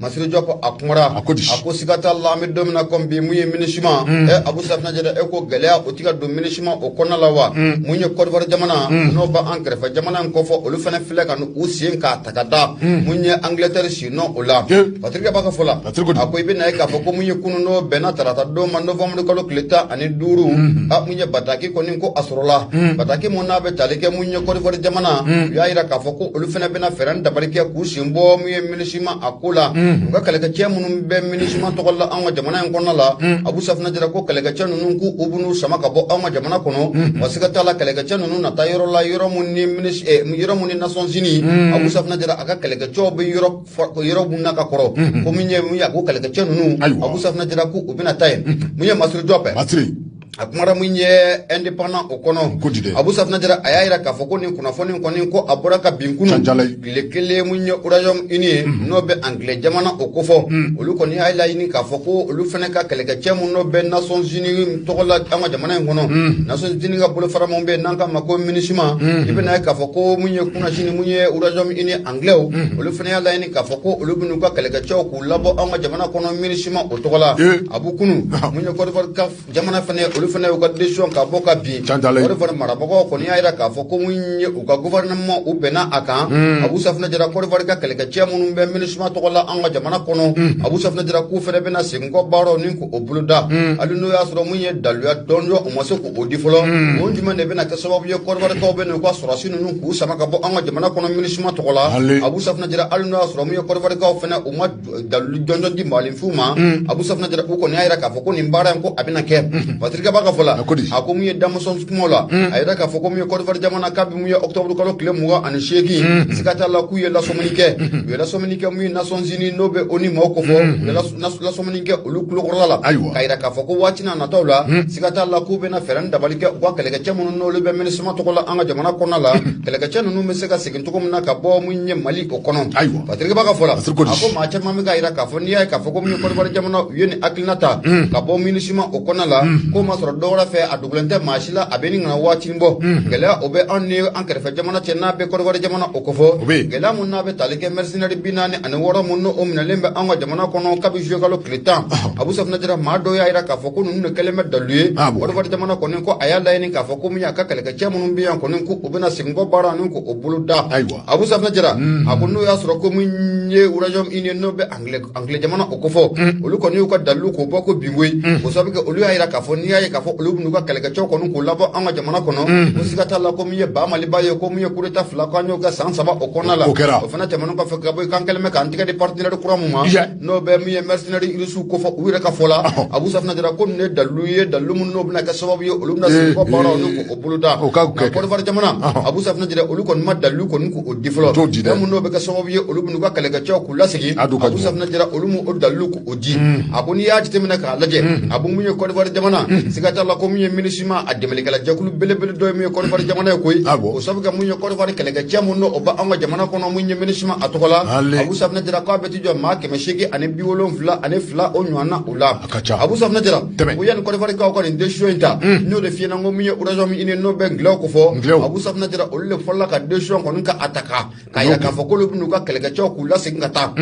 Masiri jɔpu a kumara a ko siga t'a la bɛ don kɔn bi mun ye minisima mm. abu safunɛ jara e ko gɛlɛya o tɛ ka don minisima o kɔnɔna la wa mun mm. ye kɔdiwari jamana mm. n'o bɛ an kɛrɛfɛ jamana in kofɔ olu fana filɛ ka u sen k'a ta k'a da mun ye angilɛtɛri sennɔ o la patirikɛba ka fɔ la a ko i bɛn'a ye k'a fɔ ko mun ye kunun n'o bɛnna tarata don ma nowanburu kalo tile tan ani duuru a mun ye bataki kɔni ko a sɔrɔla bataki mun n'a bɛ taali kɛ mun ye kɔdiwari jamana u y'a jira k'a fɔ ko olu fana bɛna fɛɛrɛ ni dabali kɛ k'u sen bɔ minisima a ko la u ka kɛlɛkɛcɛ minnu bɛ minisima tɔgɔ la anw ka jamana in kɔnɔ la abu safunɛ jara ko kɛlɛkɛcɛ ninnu k'u bɛn'u sama ka bɔ anw ka jamana kɔnɔ wa siga t'a la kɛlɛkɛcɛ ninnu na taa yɔrɔ la yɔrɔ minnu ni minisi eh, yɔrɔ minnu ni nations unies abu safunɛ jara a ka kɛlɛkɛcɛw bɛ yɔrɔ fa- yɔrɔ minnu na ka kɔrɔ ko min ye mun ye a ko kɛlɛkɛcɛ ninnu Ayiwa. abu safunɛ jara ko u bɛna taa yen mun ye masiri jɔpu Masiri. a kumara min ye indépendant o kɔnɔ ko di dɛ abu safunɛ jara a y'a jira k'a fɔ ko nin kunnafoni kɔni ko a bɔra ka bin kunun tile kelen min ye royaume uni ye mhm. n'o bɛ angilɛ jamana o kofɔ mhm. olu kɔni y'a laɲini k'a fɔ ko olu fana ka kɛlɛkɛcɛ minnu bɛ nations unies tɔgɔ la an ka jamana in kɔnɔ mhm. nations unies ka bolofara min bɛ yen n'an k'a ma ko minusima i bɛn'a ye k'a fɔ ko min ye kunasini min ye royaume uni angilɛw olu fana y'a laɲini k'a fɔ ko olu bɛn'u ka kɛlɛkɛcɛw U labɔ an ka jamana kɔnɔ minisima o tɔgɔ la abu kunun mun ye kɔdiwari ka jamana fana olu fana u ka décision ka bɔ ka bin fana marabagaw kɔni y'a jira k'a fɔ ko mun ye u ka gouvernement u bɛnna a kan abu safunɛ jara kɔdiwari ka kɛlɛkɛ cɛ minnu bɛ minisima tɔgɔ la an ka jamana kɔnɔ abu safunɛ jara k'u fana bɛna seginkɔ baara nin ko o boloda hali n'o y'a sɔrɔ mun ye daluya jɔnjɔn u ma se o di fɔlɔ hmm. o jumɛn de bɛna kɛ sababu ye kɔdiwarikaw bɛn'u ka sɔrɔdasi ninnu k'u sama ka bɔ an ka jamana kɔnɔ minisima tɔgɔ la abu safunɛ jara hali n'o y'a sɔrɔ mun ye kɔdiwarikaw fana u ma dalilu jɔnjɔn di maaninfinw ma hmm. abu safunɛ jara u kɔni y'a jira k'a fɔ ko nin baara in ko a bɛna kɛ hmm. patirikɛba ka fɔ la a ko mun ye damusɔn kumaw la a y'a jira k'a fɔ ko mun ye kɔdiwari jamana kabi mun ye ɔkutɔburu kalo tile mugan ani seegin siga t'a la k'u ye lasɔmini kɛ u ye lasɔmini kɛ mun ye nations unies n'o bɛ onu maaw kofɔ lasɔmini kɛ olu tulo kɔrɔ la ayiwa k'a jira k'a fɔ ko waatinin nataw la hmm. siga t'a la k'u bɛna fɛɛrɛ ni dabali kɛ u ka kɛlɛkɛcɛ minnu n'olu bɛ minisima tɔgɔ la an ka jamana kɔnɔna la hmm. kɛlɛkɛcɛ ninnu bɛ se ka segin cogo min na ka bɔ min ye mali o kɔnɔ ayiwa patirikɛba ka fɔ la a ko maa caman bɛ k'a jira k'a fɔ n'i y'a ye k'a fɔ ko min ye kɔdiwari jamana u ye nin hakilina ta hmm. ka bɔ minisima o kɔnɔna la k'o ma sɔrɔ dɔ wɛrɛ fɛ a dogolen tɛ maa si la a bɛ ɲini ka na waati bɔ gɛlɛya o bɛ anw ni an kɛrɛfɛ jamana cɛ n'a bɛ kɔdiwari jamana o kofɔ gɛlɛya minnu n'a bɛ tali kɛ senɛri binaani ani wɔɔrɔ minnu o minɛlen bɛ an ka jamana kɔnɔ kabi zuyekalo tile tan abu safunɛ jara maa dɔw y'a jira k'a fɔ ko ninnu kɛlen bɛ dalu ye kɔdiwari jamana kɔni ko a y'a laɲini k'a fɔ ko min y'a ka kɛlɛkɛ cɛ minnu bɛ yan kɔni ko u bɛna seginkɔ baara nin ko o boloda ayiwa abu safunɛ jara a ko n'o y'a sɔrɔ ko min ye royaume uni ye n'o bɛ angilɛ angilɛ jamana o kofɔ mm. olu kɔni y'u ka dalilu k'o bɔ ko binko ye mm. o sababu kɛ olu y'a jira k'a fɔ n'i y'a ye k'a fɔ olu bɛn'u ka kɛlɛkɛcɛw kɔni k'u labɔ an ka jamana kɔnɔ mm. ko siga t'a la ko min ye ba maliba ye ko min ye kudeta fila ko an y'o kɛ san saba o kɔnɔna la o kɛra o fana tɛmɛnen kɔfɛ ka bɔ yen k'an kɛlen bɛ k'an tɛgɛ di partenaire kura min ma n'o bɛ min ye mercenaire irisiw kofɔ u yɛrɛ ka fɔ la Abu Safinɛ Jara ko ninnu ye dalilu ye dalilu minnu n'o bɛna kɛ sababu ye olu bɛna segin kɔ baaraw n'u k'o boloda Côte d'Ivoire jamana Abu Safinɛ Jara olu kɔni ma dalilu kɔni k'o di fɔlɔ minnu n'o bɛ kɛ sababu ye olu bɛn'u ka kɛlɛkɛcɛw k'u lasegin Abu Safunɛ Jara olu m'o dalilu k'o di a ko n'i y'a jateminɛ k'a lajɛ a ko mun ye Côte d'Ivoire jamana siga t'a la ko min ye MINUSMA a dɛmɛlikɛla jɛkulu belebele dɔ ye min ye Côte d'Ivoire jamana ye koyi o sabu kɛ mun ye Côte d'Ivoire kɛlɛkɛcɛ minnu n'o bɛ anw ka jamana kɔnɔ mun ye MINUSMA a tɔgɔ la Abu Safunɛ Jara k'a bɛ t'i jɔ maa kɛmɛ seegin ani bi wolonwula ani fila o ɲɔgɔnna o la Abu Safunɛ Jara o yanni Côte d'Ivoire kaw ka nin décision in ta n y'o de fɔ i ɲɛ na ko min ye Royaume-Uni n'o bɛ angilɛw kofɔ Abu Safunɛ Jara olu de fɔlɔla ka décision kɔni ka a ta ka k'a yira k'a fɔ k'olu bɛn'u ka kɛlɛkɛcɛw k'u lasegin ka taa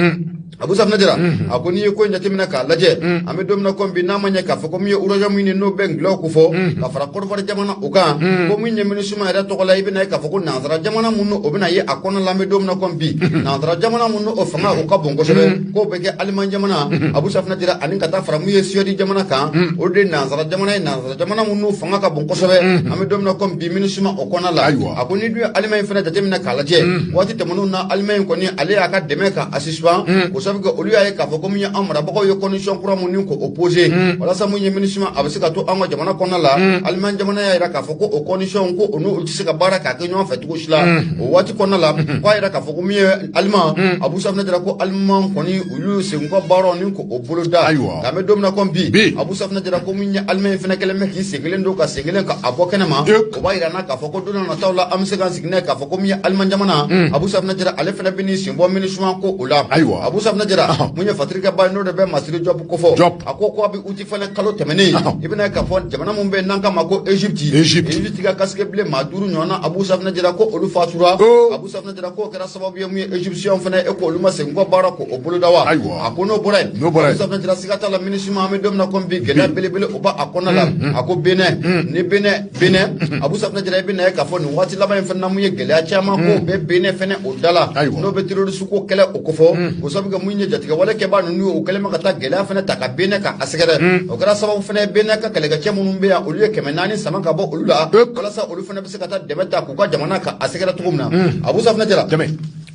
Abu Safunɛ Jara a ko n'i ye ko in jateminɛ k'a lajɛ an bɛ don min na ko bi n'a ma ɲɛ k'a fɔ ko min ye Royaume-Uni n'o bɛ angilɛw kofɔ ka fara Côte d'Ivoire jamana o kan ko min ye MINUSMA yɛrɛ tɔgɔ la i bɛna ye k'a fɔ ko nansara jamana minnu o bɛna ye a kɔnɔ la an bɛ don min na ko bi nansara jamana minnu o fanga o ka bon kosɛbɛ k'o bɛ kɛ Allemagne jamana Abu Safunɛ Jara ani ka taa fara min ye Suède jamana kan o de nansara jamana ye nansara jamana minnu fanga ka bon kosɛbɛ an bɛ don min na ko bi MINUSMA o kɔnɔ la a ko n'i dun ye Allemagne fana jateminɛ k'a lajɛ waati tɛmɛnen na Allemagne kɔni ale y'a ka dɛmɛ ka a suspendre o sabu kɛ olu y'a ye k'a fɔ ko min ye an marabagaw ye condition kura minnu ko o poser walasa min ye MINUSMA a bɛ se ka to an ka jamana kɔnɔ la Allemagne jamana y'a jira k'a fɔ ko o condition ko olu tɛ se ka baara k'a kɛ ɲɔgɔn fɛ cogo si la o waati kɔnɔ la k'a jira k'a fɔ ko min ye Allemagne hmm. abu safina jara ko Allemagne kɔni olu segin kɔ baaraw ni ko o bolo da ayiwa nka an bɛ don min na ko bi abu safina jara ko min ye Allemagne fana kɛlen bɛ k'i sen kelen don ka sen kelen ka a bɔ kɛnɛ ma o b'a yira an na k'a fɔ ko don na nataw la an bɛ se k'an sigi n'a ye k'a fɔ ko min ye Allemagne jamana hmm. abu safina jara ale fana bɛn'i sen bɔ MINUSMA ko o la ayiwa abu safina jara mun ye fatirikɛba ye n'o de bɛ masiri jɔpu kofɔ a ko ko a bɛ uti fana kalo tɛmɛnen i bɛna ye k'a fɔ jamana min bɛ yen n'an k'a ma ko egypte egypte ka casque bleu maa duuru ɲɔgɔnna abu safina jara ko olu fatura oh. abu safina K'o kɛra sababu ye mun ye Egypte fana e ko olu ma segin kɔ baara ko o boloda wa a ko n'o bɔra yen siga t'a la MINUSMA an bɛ don min na ko bi gɛlɛya belebele o b'a kɔnɔ la a ko Benin ni Benin Abu Safinɛ Jara i bɛn'a ye k'a fɔ nin waati laban in fana ye gɛlɛya caman ko bɛ Benin fana o da la n'o bɛ terroriste ko kɛlɛ o ko fɔ o sabu kɛ mun ye jatigɛwale kɛbaa ninnu o kɛlen bɛ ka taa gɛlɛya fana ta ka Benin ka a sɛgɛrɛ o kɛra sababu fana Benin ka kɛlɛkɛcɛ minnu bɛ yan olu ye kɛmɛ naani sama ka bɔ olu la walasa olu se ka taa dɛmɛ ta k'u ka jamana ka a sɛgɛrɛ cogo min na mm. Abu Safinɛ Jara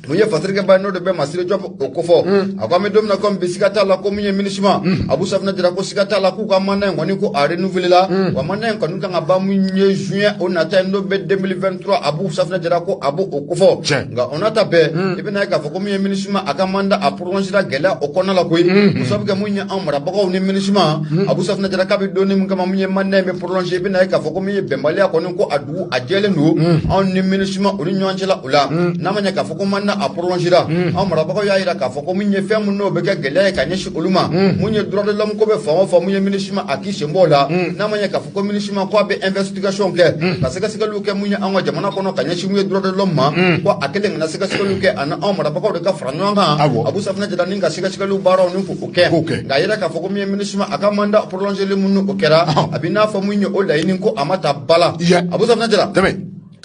mun ye fasirikɛba n'o de bɛ Masiri Jɔp o kofɔ mm. a ko an bɛ don min na komi bi siga t'a la ko min ye minisima mm. Abu Safinɛ Jara ko siga t'a la k'u ka mandat in kɔni ko a renouveler la wa mandat in kɔni kan ka ban mun ye juin o nata in n'o bɛ 2023 Abu Safinɛ Jara ko a b'o o kofɔ nka o n'a ta bɛɛ i bɛna ye k'a fɔ ko min ye minisima a ka mandat a prolongera gɛlɛya o kɔnɔna la koyi o sabu kɛ mun ye an marabagaw ni minisima Abu Safinɛ Jara k'a bɛ donni min kama mun ye mandat in bɛ prolongé i bɛna ye k'a fɔ ko min ye bɛnbaliya kɔni ko a dugu a jɛlen don anw ni minisuma o ni ɲɔgɔn cɛla o la n'a ma ɲɛ k'a fɔ ko mandat a prolongera anw marabagaw y'a jira k'a fɔ ko min ye fɛn minnu n'o bɛ kɛ gɛlɛya ye ka ɲɛsin olu ma mun ye droit de l'homme ko bɛ fan o fan mun ye minisuma a k'i senbɔ o la n'a ma ɲɛ k'a fɔ ko minisuma ko a bɛ investigation kɛ ka sɛgɛsɛgɛliw kɛ mun ye anw ka jamana kɔnɔ ka ɲɛsin mun ye droit de l'homme ma ko a kelen kana sɛgɛsɛgɛliw kɛ ani anw marabagaw de ka fara ɲɔgɔn kan Abu Safinɛ Jara ni ka sɛgɛsɛgɛliw baaraw ni k'o kɛ nka a yira k'a fɔ ko min ye minisuma a ka mandat prolongéli mun o kɛra a bɛ n'a fɔ min ye o laɲini ko a ma ta bala Abu Safinɛ Jara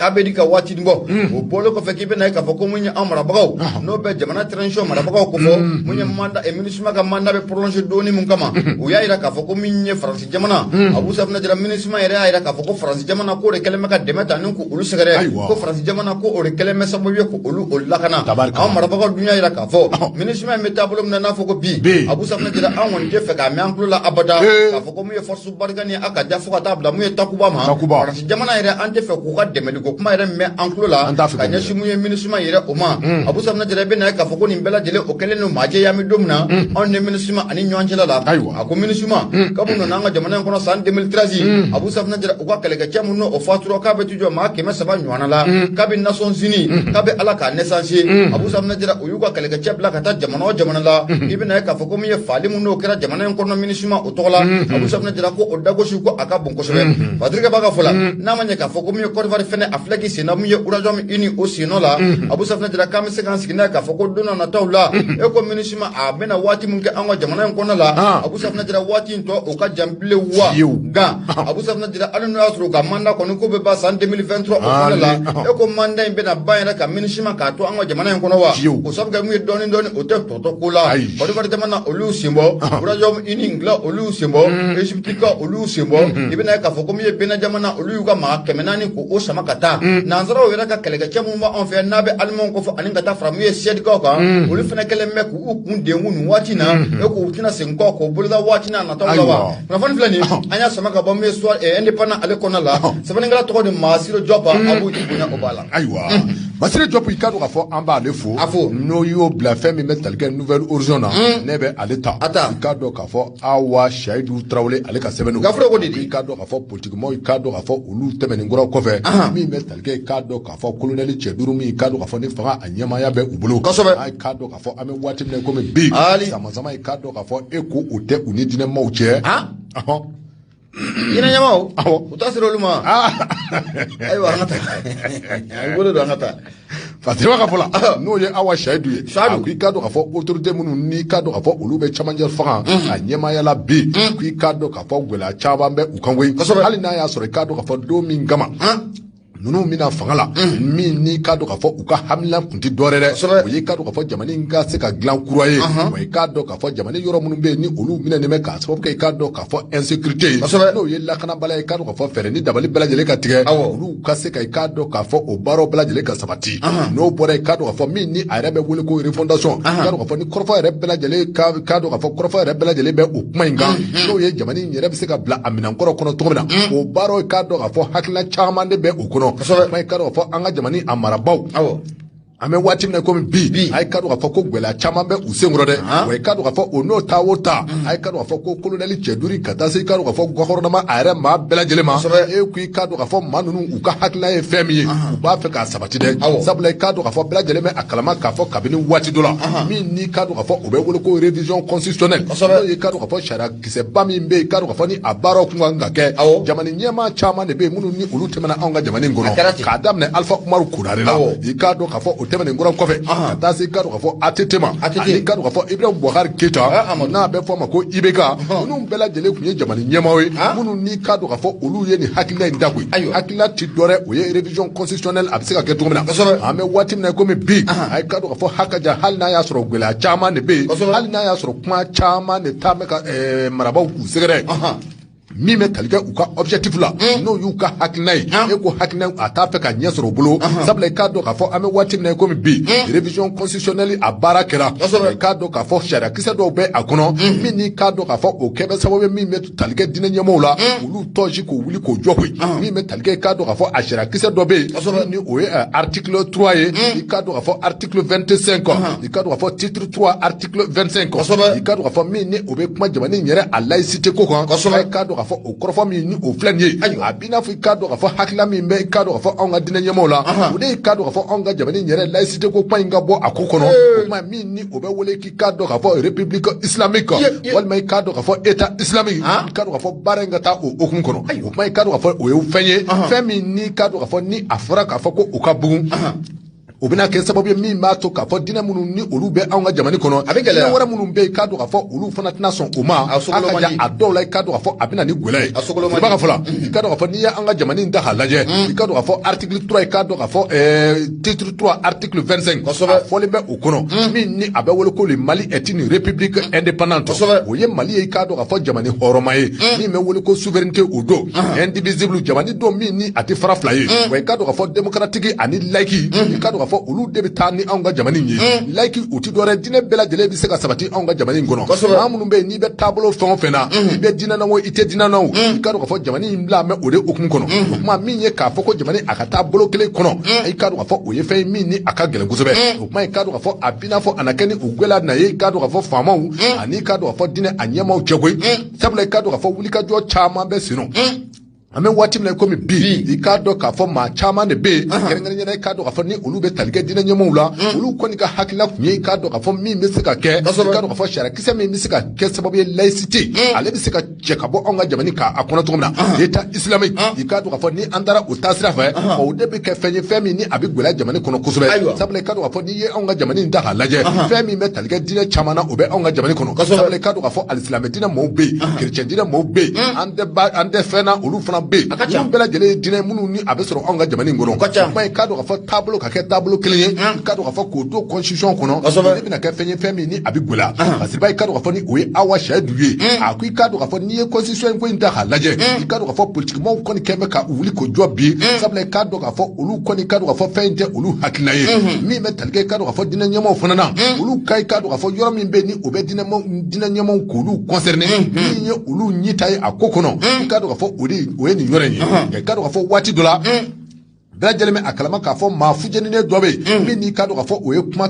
k'a bɛ di ka waati bɔ hmm. o bɔlen kɔfɛ k'i bɛna ye k'a fɔ ko mun ye an marabagaw n'o bɛ jamana transition marabagaw kofɔ hmm. mun ye mandat eh, minisuma ka mandat bɛ prolonger dɔɔni mun kama hmm. o y'a jira k'a fɔ ko min ye faransi jamana Abu Safinɛ Jara minisuma yɛrɛ y'a jira k'a fɔ ko faransi jamana k'o de kɛlen bɛ ka dɛmɛ ta ni olu sɛgɛrɛ ko faransi jamana ko o kɛlen bɛ sababu ye ko olu o lakana anw marabagaw dun y'a jira k'a fɔ minisuma in bɛ taabolo min na n'a fɔ ko bi Abu Safunɛ Jara an kɔni tɛ fɛ k'a mɛn an tulo la abada k'a fɔ ko mun ye force Barkhane a ka ja fo ka taa bila mun ye takuba ma faransi jamana yɛrɛ an tɛ fɛ k'u ka dɛmɛli ko kuma yɛrɛ mɛn an tulo la ka ɲɛsin mun ye minisuma yɛrɛ o ma Abu Safunɛ Jara bɛna ye k'a fɔ ko nin bɛɛ lajɛlen o kɛlen don maa jɛya min don min na anw ni minisuma ani ɲɔgɔn cɛla la a ko minisuma kabini nana an ka jamana in kɔnɔ san 2013 Abu Safunɛ u ka kɛlɛkɛcɛ minnu o fatura k'a bɛ t'u jɔ maa kɛmɛ saba ɲɔgɔn la mm. kabi Nations Unies mm. kabi ale ka naissance mm. Abu Safinɛ u y'u ka kɛlɛkɛcɛ bila ka taa jamana o jamana la i bɛna ye k'a fɔ ko min ye faali minnu n'o kɛra jamana in kɔnɔ minisuma o tɔgɔ la Abu Safinɛ ko o dagosi ko a ka bon kosɛbɛ fatirikɛba ka fɔ la n'a ma ɲɛ k'a fɔ ko min ye Kɔdiwari fɛnɛ a filɛ k'i senna min ye Royaume Uni o sennɔ la Abu Safinɛ k'an bɛ se k'an sigi n'a ye k'a fɔ ko don nataw la e ko minisuma a bɛna waati min kɛ an ka jamana in kɔnɔ la ah. Abu Safinɛ waati o ka jan bilen wa fiyewu nka Abu Safinɛ Jara hali n'o y'a sɔrɔ u ka mandat kɔni ko bɛ ban san 2023 o kɔnɔ la e ko mandat in bɛna ban yɛrɛ ka minusima k'a to an ka jamana in kɔnɔ wa fiyewu o sabu kɛ mun ye dɔɔni dɔɔni o tɛ tɔ to ko la Kɔdiwari jamana olu y'u senbɔ Royaume Uni nka olu y'u senbɔ Egypte kaw olu y'u senbɔ i bɛna ye k'a fɔ ko min ye Benin jamana olu y'u ka maa kɛmɛ naani ko o sama ka taa nansaraw yɛrɛ ka kɛlɛkɛcɛ minnu b'anw fɛ n'a bɛ Allemand kofɔ ani ka taa fara min ye Suède kaw kan olu fana kɛlen bɛ k'u U kun denkun nin waati na e k'u tɛna segin kɔ k'o boloda waati na nata la wa kunnafoni filɛ nin an y'a sama ka bɔ min soit Indépendant ale kɔnɔ la sɛbɛnnikɛla tɔgɔ de Masiri Jɔp a b'u bonya o b'a la ayiwa Masiri Jɔp i ka dɔn k'a fɔ an b'ale fo a fo n'o y'o bila fɛn min bɛ talikɛ Nouvel Horizon na ne bɛ ale ta a ta i ka dɔn k'a fɔ Awa Seyidu Tarawele ale ka sɛbɛn gafew de i ka dɔn k'a fɔ politigimaaw i ka dɔn k'a fɔ olu tɛmɛnen kɔrɔ kɔfɛ min bɛ talikɛ i ka dɔn a fɔ kolonɛli cɛ duuru min k'a dɔn k'a fɔ ni fanga a ɲɛmaaya bɛ u bolo kosɛbɛ i k'a dɔn k'a fɔ an bɛ waati min na komi bi samasama ye k'a dɔn k'a fɔ e ko o tɛ u ni diinɛmaaw cɛ diinɛ ɲɛmaaw u ta sera olu ma ayiwa an ka taa a bolo don an ka taa Fatima ka fɔ la n'o ye Awa Seyidu ye a ko i k'a dɔn k'a fɔ autorité minnu n'i k'a dɔn k'a fɔ olu bɛ cɛmancɛ fanga a ɲɛmaaya la bi ko i k'a dɔn k'a fɔ gɛlɛya caman bɛ u kan koyi hali n'a y'a sɔrɔ i k'a dɔn k'a fɔ don min kama ninnu bɛna fanga la min n'i k'a dɔn k'a fɔ u ka hamina kun tɛ dɔwɛrɛ dɛ o y'i k'a dɔn k'a fɔ jamana in ka se ka dilan kura ye wa i k'a dɔn k'a fɔ jamana yɔrɔ minnu bɛ yen ni olu minɛnen bɛ k'a sababu kɛ i k'a dɔn k'a fɔ insécurité ye n'o ye lakanabaliya ye i k'a dɔn k'a fɔ fɛɛrɛ ni dabali bɛɛ lajɛlen ka tigɛ olu ka se ka i k'a dɔn k'a fɔ o baaraw bɛɛ lajɛlen ka sabati n'o bɔra i k'a dɔn k'a fɔ min ni a yɛrɛ bɛ wele ko refondation i k'a dɔn k'a fɔ kɔrɔfɔ yɛrɛ bɛɛ lajɛlen k'a dɔn k'a fɔ kɔrɔfɔ yɛrɛ bɛɛ lajɛlen bɛ o kuma in kan mhm. n'o ye jamana in yɛrɛ bɛ se ka bila a minɛn kɔrɔ kɔnɔ cogo min na mhm. o baaraw k'a dɔn k'a fɔ hakilina caman de bɛ o kɔnɔ kuma in k'a dɔn k'a fɔ an ka jamana a marabaaw an bɛ waati min na komi bi a ye ka dɔn k'a fɔ ko gɛlɛya caman bɛ u senkɔrɔ dɛ wa i ka dɔn k'a fɔ o n'o ta o ta a ye ka dɔn k'a fɔ ko kolonɛli cɛ duuru ka taa se i ka dɔn k'a fɔ gɔfɛrɛnaman a yɛrɛ maa bɛɛ lajɛlen ma e ko i ka dɔn k'a fɔ maa ninnu u ka hakilila ye fɛn min ye u b'a fɛ k'a saba ti dɛ sabula i k'a dɔn k'a fɔ bɛɛ lajɛlen bɛ a kalama k'a fɔ kabini waati dɔ la min n'i k'a dɔn k'a fɔ o bɛ wele ko révision constitutionnelle n'o ye k'a dɔn k'a fɔ sariya kisɛba min bɛ yen k'a dɔn k'a fɔ ni a baaraw tun kan ka kɛ jamana ɲɛmaa caman de bɛ yen minnu ni olu tɛmɛna anw ka jamana in kɔnɔ k'a daminɛ Alpha Umaru Konare la i k'a dɔn k'a fɔ o tɛmɛnen kɔrɔ kɔfɛ ka taa se i k'a dɔn k'a fɔ ATT ma ani k'a dɔn k'a fɔ Ibrahim Boubacar Keita n'a bɛ fɔ a ma ko IBK ninnu bɛɛ lajɛlen tun ye jamana ɲɛmaaw ye minnu ni k'a dɔn k'a fɔ olu ye nin hakilila in da koyi ayiwa hakilila tɛ dɔwɛrɛ o ye révision constitutionnelle a bɛ se ka kɛ cogo min na kosɛbɛ an bɛ waati min na komi bi a ye k'a dɔn k'a fɔ hakaja hali n'a y'a sɔrɔ gɛlɛya caman de bɛ yen kosɛbɛ hali n'a y'a sɔrɔ kuma caman de taa bɛ ka ɛɛ marabaaw k'u sɛgɛrɛ min bɛ tali kɛ u ka objectif la n'o y'u ka hakilina ye e ko hakilina a t'a fɛ ka ɲɛ sɔrɔ u bolo sabula i k'a dɔn k'a fɔ an bɛ waati min na komi bi révision constitutionnelle a baara kɛra i k'a dɔn k'a fɔ sariya kisɛ dɔw bɛ a kɔnɔ min n'i k'a dɔn k'a fɔ o kɛ bɛ sababu ye min bɛ talikɛ diinɛ ɲɛmɔgɔw la mm. olu tɔji k'u wuli k'u jɔ koyi mm. min bɛ talikɛ k'a dɔn k'a fɔ a sariya kisɛ dɔ bɛ yen ni o ye eh, article trois ye mm. i k'a dɔn k'a fɔ article vingt cinq i k'a dɔn k'a fɔ titre trois article vingt cinq i k'a dɔn k'a fɔ min ni o bɛ kuma jamana in yɛrɛ a laïcité ko kan i k'a dɔn k'a fɔ o kɔrɔfɔ min ni o filɛ nin ye a b'i n'a fɔ i k'a dɔn k'a fɔ hakilila min bɛ i k'a dɔn k'a fɔ anw ka diinɛ ɲɛmɔgɔw la o de ye k'a dɔn k'a fɔ anw ka jamana in yɛrɛ laïcité ko kuma in ka bɔ a ko kɔnɔ o kuma min ni o bɛ wele i k'a dɔn k'a fɔ république islamique walima i k'a dɔn k'a fɔ état islamique ah. i k'a dɔn k'a fɔ baara in ka taa o hukumu kɔnɔ o kuma i k'a dɔn k'a fɔ o ye fɛn ye fɛn min n'i k'a dɔn k'a fɔ ni a fɔra k'a fɔ ko u ka bugun o bɛna kɛ sababu ye min b'a to k'a fɔ diinɛ minnu ni olu bɛ anw ka jamana kɔnɔ a bɛ gɛlɛya wɛrɛ minnu bɛ yen k'a dɔn k'a fɔ olu fana tɛna sɔn o ma a ka ca a dɔw la i k'a dɔn k'a fɔ a bɛ na ni gɛlɛya ye i b'a ka fɔ la i k'a dɔn k'a fɔ n'i ye an ka jamana in ta k'a lajɛ i k'a dɔn k'a fɔ article 3 i k'a dɔn k'a fɔ titre 3 article 25 kosɛbɛ a fɔlen bɛ o kɔnɔ hmm. min ni a bɛ wele ko le mali est une république hmm. indépendante kosɛbɛ o ye mali ye i k'a dɔn k'a fɔ jamana hɔrɔnma ye hmm. min bɛ wele ko souveraineté o don indivisible jamana don min ni a tɛ fara fila ye wa i k'a dɔn k'a fɔ démocratique ani laïque i k'a dɔn k'a fɔ olu de bɛ taa ni anw ka jamana in ye laïque o tɛ dɔwɛrɛ diinɛ bɛɛ lajɛlen bɛ se ka sabati anw ka jamana in kɔnɔ kosɛbɛ maa minnu bɛ yen i bɛ taabolo fɛn o fɛn na i bɛ diinɛ na o i tɛ diinɛ na o i k'a dɔn k'a fɔ jamana in bilalen bɛ o de hukumu kɔnɔ o kuma min ye k'a fɔ ko jamana a ka taa bolo kelen kɔnɔ i k'a dɔn k'a fɔ o ye fɛn ye min ni a ka gɛlɛn kosɛbɛ o kuma i k'a dɔn k'a fɔ a b'i n'a fɔ a na kɛ ni o gwɛlɛya na ye i k'a dɔn k'a fɔ faamaw ani i k'a dɔn k'a fɔ diinɛ a ɲɛmaaw cɛ koyi sabula i k'a dɔn k'a fɔ wulikajɔ caman bɛ senna an bɛ waati min na komi bi i k'a dɔn k'a fɔ maa caman de bɛ yen kɛrɛnkɛrɛnnenya la i k'a dɔn k'a fɔ ni olu bɛ tali kɛ diinɛ ɲɛmɔgɔw la mm. olu kɔni ka hakilina tun ye i k'a dɔn k'a fɔ min bɛ se ka kɛ i k'a dɔn k'a fɔ sariyakisɛ min bɛ se ka kɛ sababu ye laïcité mm. ale bɛ se ka cɛ ka bɔ anw ka jamana k'a kɔnɔ cogo min na mm. état islamique i k'a dɔn k'a fɔ ni an taara o taasira fɛ o de bɛ kɛ fɛn ye fɛn min ni a bɛ gɛlɛya jamana kɔnɔ kosɛbɛ sabula i k'a dɔn k'a fɔ i ye anw ka jamana in ta k'a lajɛ fɛn min bɛ tali kɛ diinɛ caman na o bɛ anw ka jamana kɔnɔ sabula i k'a dɔn k'a fɔ alisilamɛ diinɛ mɔɔw bɛ yen kerecɛn diinɛ mɔɔw bɛ yen an tɛ ba an tɛ fɛn na olu fana bɛ yen ninnu bɛɛ lajɛlen ye diinɛ minnu ni a bɛ sɔrɔ anw ka jamana in kɔnɔ kuma i k'a dɔn k'a fɔ taabolo ka kɛ taabolo kelen ye k'a dɔn k'a fɔ k'o don constitution kɔnɔ nin bɛna kɛ fɛn ye fɛn min ni a bɛ gɛlɛya parce que ba i k'a dɔn k'a fɔ ni o ye Awa Sɛyidu ye a ko i k'a dɔn k'a fɔ n'i ye constitution in ko in ta k'a lajɛ i k'a dɔn k'a fɔ politikimɔɔw kɔni kɛlen bɛ ka u wuli k'u jɔ bi sabula i k'a dɔn k'a fɔ olu kɔni k'a dɔn k'a fɔ fɛn in tɛ olu hakilina ye mhm. min bɛ tali kɛ k'a dɔn k'a fɔ diinɛ ɲɛmɔgɔw fana na mhm. olu ka i k'a dɔn k'a fɔ yɔrɔ min bɛ ni o bɛ diinɛ ɲɛmɔgɔw k'olu concerné mhm. min ye olu ɲinita ye a ko kɔnɔ i k'a dɔn k'a fɔ o de o ye nin yɔrɔ in ye i k'a dɔn k'a fɔ waati dɔ la bɛɛ lajɛlen bɛ a kalama k'a fɔ maa fujeninen dɔ bɛ yen min n'i k'a dɔn k'a fɔ o ye kuma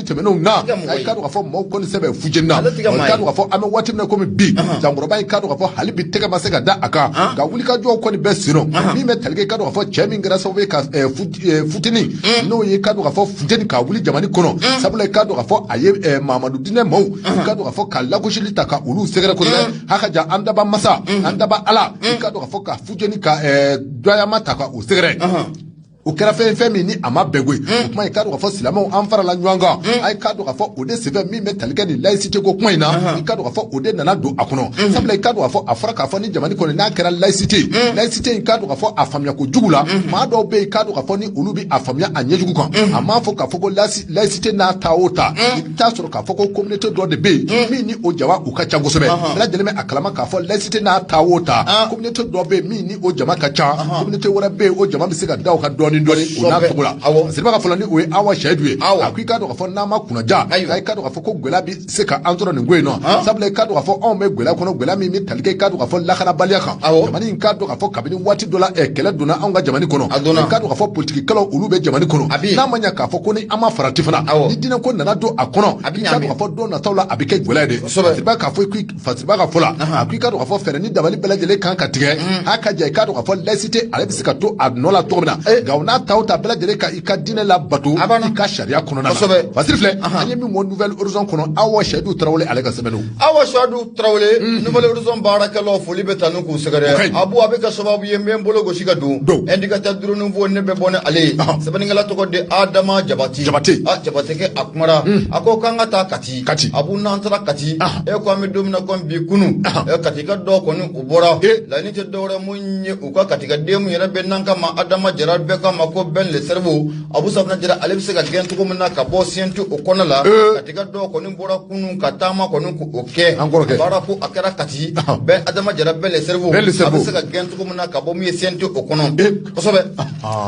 tɛmɛnenw na a ye k'a dɔn k'a fɔ maaw kɔni sɛbɛ fujeni na k'a dɔn k'a fɔ an bɛ waati min na komi bi jankɔrɔba ye k'a dɔn k'a fɔ hali bi tɛgɛ ma se ka da a kan nka wulikajɔw kɔni bɛ senna min bɛ tali kɛ k'a dɔn k'a fɔ cɛ min kɛra sababu ye ka futeni n'o ye k'a dɔn k'a fɔ futeni ka wuli jamana kɔnɔ sabula k'a dɔn k'a fɔ a ye mamadu diinɛ maaw k'a dɔn k'a fɔ ka lagosili ta ka olu sɛgɛrɛ kosɛbɛ haka ja an dabaa masa an dabaa ala k'a dɔn k'a fɔ ka futeni ka dɔyama ta ka u sɛgɛrɛ o kɛra fɛn ye fɛn min ni a ma bɛn koyi o kuma i k'a dɔn k'a fɔ silamɛw an farala ɲɔgɔn kan a ye k'a dɔn k'a fɔ o de senfɛ min bɛ tali kɛ nin laïcité ko kuma in na i k'a dɔn k'a fɔ o de nana don a kɔnɔ sabula i k'a dɔn k'a fɔ a fɔra k'a fɔ ni jamana kɔnɔ n'a kɛra laïcité laïcité i k'a dɔn k'a fɔ a faamuya ko jugu la maa dɔw bɛ yen k'a dɔn k'a fɔ ni olu bɛ a faamuya a ɲɛjugu kan a ma fɔ k'a fɔ ko laïcité n'a ta o ta i t'a sɔrɔ k'a fɔ ko communauté dɔ de bɛ yen min ni o jama u ka ca kosɛbɛ bɛɛ lajɛlen bɛ a kalama k'a fɔ laïcité n'a ta o ta communauté dɔ bɛ yen min ni o jama ka ca communauté wɛrɛ bɛ yen o jama bɛ se ka da o kan dɔɔni dɔɔni o n'a cogo la fasiriba ka fɔ la ni o ye Awa Seyidu ye a ko i k'a dɔn k'a fɔ n'an ma kunnaja i k'a dɔn k'a fɔ ko gɛlɛya bɛ se ka an sɔrɔ nin ko in nɔ sabula i k'a dɔn k'a fɔ anw bɛ gɛlɛya kɔnɔ gɛlɛya min bɛ i k'a dɔn k'a fɔ lakanabaliya kan jamana in k'a dɔn k'a fɔ kabini waati dɔ la kɛlɛ donna anw ka jamana kɔnɔ k'a dɔn k'a fɔ politikikɛlaw olu bɛ jamana kɔnɔ n'a ma ɲa k'a fɔ ko ni an ma farati fana ni diinɛ ko nana don a kɔnɔ k'a dɔn k'a fɔ don nataw la a bɛ kɛ gɛlɛya de fasiriba k'a fɔ fasiriba ka fɔ la a ko i k'a dɔn k'a fɔ fɛɛrɛ ni dabali bɛɛ lajɛlen kan ka tigɛ a ka ja i k'a dɔn k'a fɔ laïcité ale bɛ se ka to a nɔ la cogo min na nka o n'a ta o ta bɛɛ lajɛlen ka i ka diinɛ labato i ka sariya kɔnɔna na fasiri filɛ an ye min bɔ nouvel horizon kɔnɔ awa seyidu tarawele ale ka sɛbɛn don awa seyidu tarawele mhm. nouvel horizon baarakɛlaw foli bɛ tanu k'u sɛgɛrɛ abu a bɛ kɛ sababu ye n bɛ n bolo gosi ka don indicateur du renouveau ne bɛ bɔ ni ale ye sɛbɛnnikɛla tɔgɔ de adama jabate jabatekɛ a kumara mhm. a ko k'an ka taa kati kati abu n'an taara kati e ko an bɛ don min na komi bi kunu katika dɔw kɔni u bɔra laɲini tɛ dɔwɛrɛ mun ye u ka katika den mun yɛrɛ bɛ n'an k'a ma adama jara bɛɛ k'a ma ko ben le cerveau abu safunɛ jara ale bɛ se ka gɛn cogo min na ka bɔ CNT o kɔnɔ la katika dɔw kɔni bɔra kunun ka taama kɔni ko o kɛ baara ko a kɛra kati ben adama jara ben le cerveau a bɛ se ka gɛn cogo min na ka bɔ min ye CNT o kɔnɔ kosɛbɛ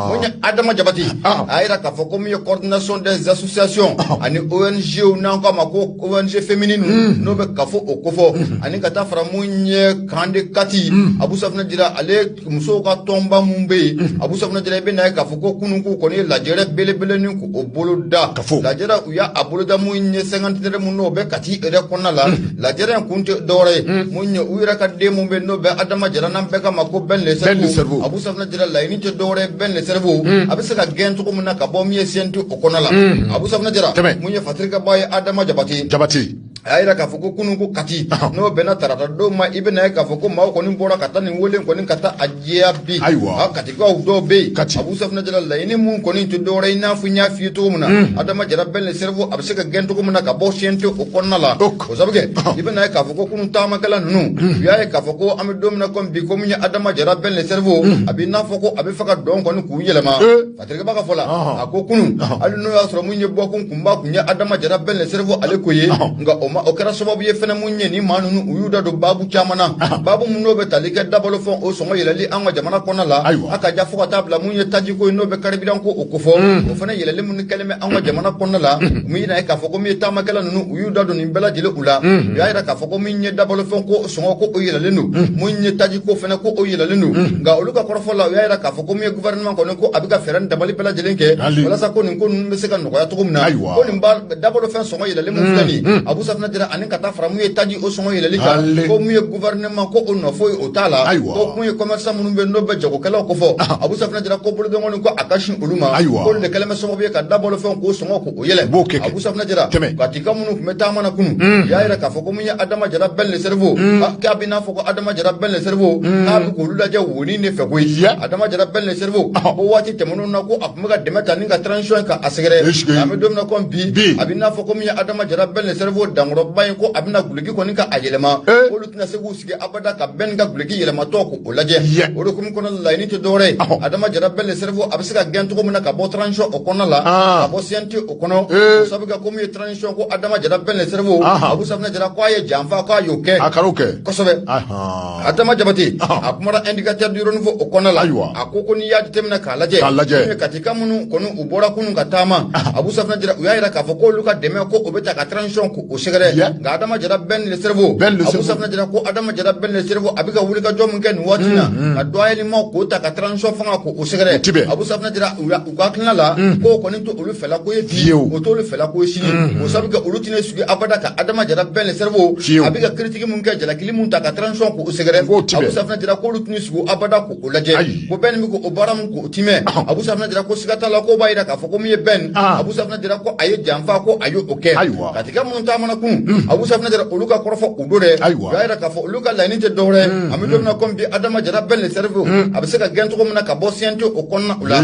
mun ye adama jabate a yira k'a fɔ ko min ye coordination des associations ani ONGw n'an k'a ma ko ONG féminine hmm. n'o bɛ CAFO o kofɔ hmm. ani ka taa fara mun ye kan de kati hmm. abu safunɛ jara ale musow ka tɔnba minnu bɛ yen mhm. abu safunɛ jara i bɛ na ye k'a fɔ ko kunun k'u kɔni ye lajɛrɛ belebele ni k'o boloda lajɛrɛ u y'a boloda mun ye cinquantenaire mun n'o bɛ kati yɛrɛ kɔnɔna la mhm. lajɛrɛ in kun tɛ dɔwɛrɛ ye mhm. mun ye u yɛrɛ ka den mun bɛ yen n'o bɛ adama jara n'an bɛɛ k'a ma ko ben le cerveau abu safunɛ jara laɲini tɛ dɔwɛrɛ ye ben le cerveau a bɛ se ka gɛn cogo min na ka bɔ min ye CNT o kɔnɔ la abu safunɛ jara mun ye fasirikɛba ye adama jabate jabate a y'a yira k'a fɔ ko kunun ko kati n'o bɛnna tarata don ma i bɛna ye k'a fɔ ko maaw kɔni bɔra ka taa nin wele kɔni ka taa a jaabi ayiwa katikaw dɔw bɛ yen kati abu safunɛ jara laɲini mun kɔni tɛ dɔwɛrɛ i n'a fɔ n y'a f'i ye cogo min na adama jara ben le cerveau a bɛ se ka gɛn cogo min na ka bɔ CNT o kɔnɔna la o sabu kɛ i bɛna ye k'a fɔ ko kunun taamakɛla ninnu u y'a ye k'a fɔ ko an bɛ don min na komi bi ko min ye adama jara ben le cerveau a bɛ i n'a fɔ ko a bɛ fɛ ka dɔn kɔni k'u yɛlɛma fasirikɛba ka fɔ la a ko kunun hali n'o y'a sɔrɔ mun ye bɔkun kunba kun ye adama jara ben le cerveau ale ko ye nka o ma o kɛra sababu ye fana mun ye ni maa ninnu u y'u da don baabu caman na baabu minnu n'o bɛ tali kɛ dabalo fɛn o sɔngɔ yɛlɛli an ka jamana kɔnɔ la a ka ja fo ka taa bila mun ye tajiko ye n'o bɛ carburant ko o kofɔ o fana yɛlɛli minnu kɛlen bɛ an ka jamana kɔnɔ la mun ye k'a fɔ ko min ye taamakɛla ninnu u y'u da don nin bɛɛ lajɛlen u la u y'a jira k'a fɔ ko min ye dabalo fɛn ko sɔngɔ ko o yɛlɛlen don mun ye tajiko fana ko o yɛlɛlen don nka olu ka kɔrɔfɔ la u y'a jira k'a fɔ ko min ye gouvernement kɔni ko a bɛ ka fɛɛrɛ ni dabali bɛɛ lajɛlen kɛ walasa ko nin ko ninnu bɛ se ka nɔgɔya cogo min na ko nin dabalo fɛn sɔngɔ yɛlɛlen min filɛ nin ye Abu Safinɛ Jara ani ka taa fara mun ye taji o sɔngɔ yɛlɛli kan ko mun ye gouvernement ko o nɔ foyi o t'a la ko mun ye commerçant minnu bɛ n'o bɛ jagokɛlaw ko fɔ Abu Safinɛ Jara ko bolonkɔni ko a ka sin olu ma ko olu de kɛlen bɛ sababu ye ka dabalo fɛn k'o sɔngɔ ko o yɛlɛ Abu Safinɛ Jara Katika minnu tun bɛ taama na kunu u y'a yira k'a fɔ ko mun ye Adama Jara Bɛn le Cerveau k'a bɛ i n'a fɔ ko Adama Jara Bɛn le Cerveau k'a bɛ k'olu lajɛ U ni ne fɛ ko Adama Jara Bɛn le Cerveau ko waati tɛmɛnen na ko a tun bɛ ka dɛmɛ ta ni ka transition ka a sɛgɛrɛ an bɛ don min na ko bi a bɛ n'a fɔ ko min ye Adama Jara Bɛn le Cerveau dankɔrɔba in ko a bɛna guloki kɔni ka a yɛlɛma olu tɛna se k'u sigi abada ka Bɛn ka guloki yɛlɛmatɔ ko o lajɛ olu kun kɔnɔ laɲini tɛ dɔwɛrɛ ye Adama Jara Bɛn le Cerveau a bɛ se ka gɛn cogo min na ka bɔ transition o kɔnɔ la ka bɔ CNT o kɔnɔ sabu kɛ ko min ye transition ko Adama Jara Bɛn le Cerveau Abu Safinɛ Jara ko a ye janfa k'a y'o kɛ a kɛ adama jabate a kumara indicateur du renouveau o kɔnɔna la ayiwa a ko ko n'i y'a jateminɛ k'a lajɛ k'a lajɛ katika minnu kɔni u bɔra kunun ka taama abu safinɛ jara u y'a yira k'a fɔ k'olu ka dɛmɛ ko o bɛ ta ka transition ko o sɛgɛrɛ nka adama jara bɛn le cerveau abu safinɛ jara ko adama jara bɛn le cerveau a bɛ ka wulikajɔ min kɛ nin waati na ka dɔgɔyali ma k'o ta ka transition fanga ko o sɛgɛrɛ abu safinɛ jara u ka hakilina la k'o kɔni t'olu fɛla ko ye bi o t'olu fɛla ko ye sini o sabu kɛ olu tɛna sigi abada ka adama jara bɛn le cerveau a bɛ ka critique mun kɛ jalakili mun ta ka transition k'o sɛgɛrɛ abu safina jara ko olu tɛna sigi abada ko o lajɛ ko bɛni bɛ k'o baara mun ko o timɛ abu safina jara ko siga t'a la ko b'a yira k'a fɔ ko min ye bɛn abu safina jara ko a ye janfa ko a y' o kɛ ayiwa katika minnu taamana kunu abu safinɛ jara olu ka kɔrɔfɔ o don dɛ Ayiwa. y'a yira k'a fɔ olu ka laɲini tɛ dɔwɛrɛ an bɛ don min na komi bi adama jara bɛn le cerveau a bɛ se ka gɛn cogo min na ka bɔ CNT o kɔnɔna o la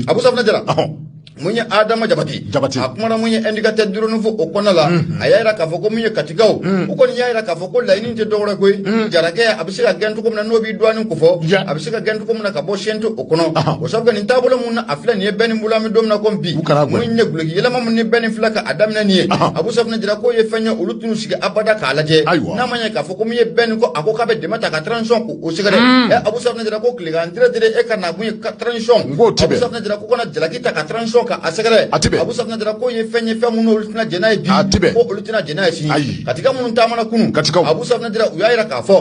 abu safinɛ jara Ɔhɔn. mun ye adama jabate Jabate. a kumana mun ye indicateur du renouveau o kɔnɔna la a y'a yira k'a fɔ ko mun ye katikaw u kɔni y'a yira k'a fɔ a ko laɲini tɛ dɔwɛrɛ koyi hmm. jarakɛ a bɛ se ka gɛn cogo min na n'o b'i dɔɔni ko fɔ a bɛ se ka gɛn cogo min na ka bɔ CNT o kɔnɔ o sabu nin taabolo min na a filɛ nin ye bɛni bolo an bɛ don min na ko bi mun ye guloki yɛlɛma min ni bɛni filɛ ka a daminɛ nin ye abu safinɛ jara k'o ye fɛn ye olu tɛn'u sigi abada k'a lajɛ n'a ma ɲɛ k'a fɔ ko min ye bɛni ko a ko k'a bɛ dɛmɛ ta ka transition ko o sɛgɛrɛ hmm. ɛ abu safinɛ jara ko tilekan dire dire e ka na kun ye transition abu safinɛ jara ko kana jalaki ta ka transition ka a sɛgɛrɛ abu safinɛ jara k'o ye fɛn ye fɛn minnu olu tɛna jɛn n'a ye bi tɛna jɛn n'a ye sini ayi katika minnu taamana kunu katikaw abu safina jara u y'a yira k'a fɔ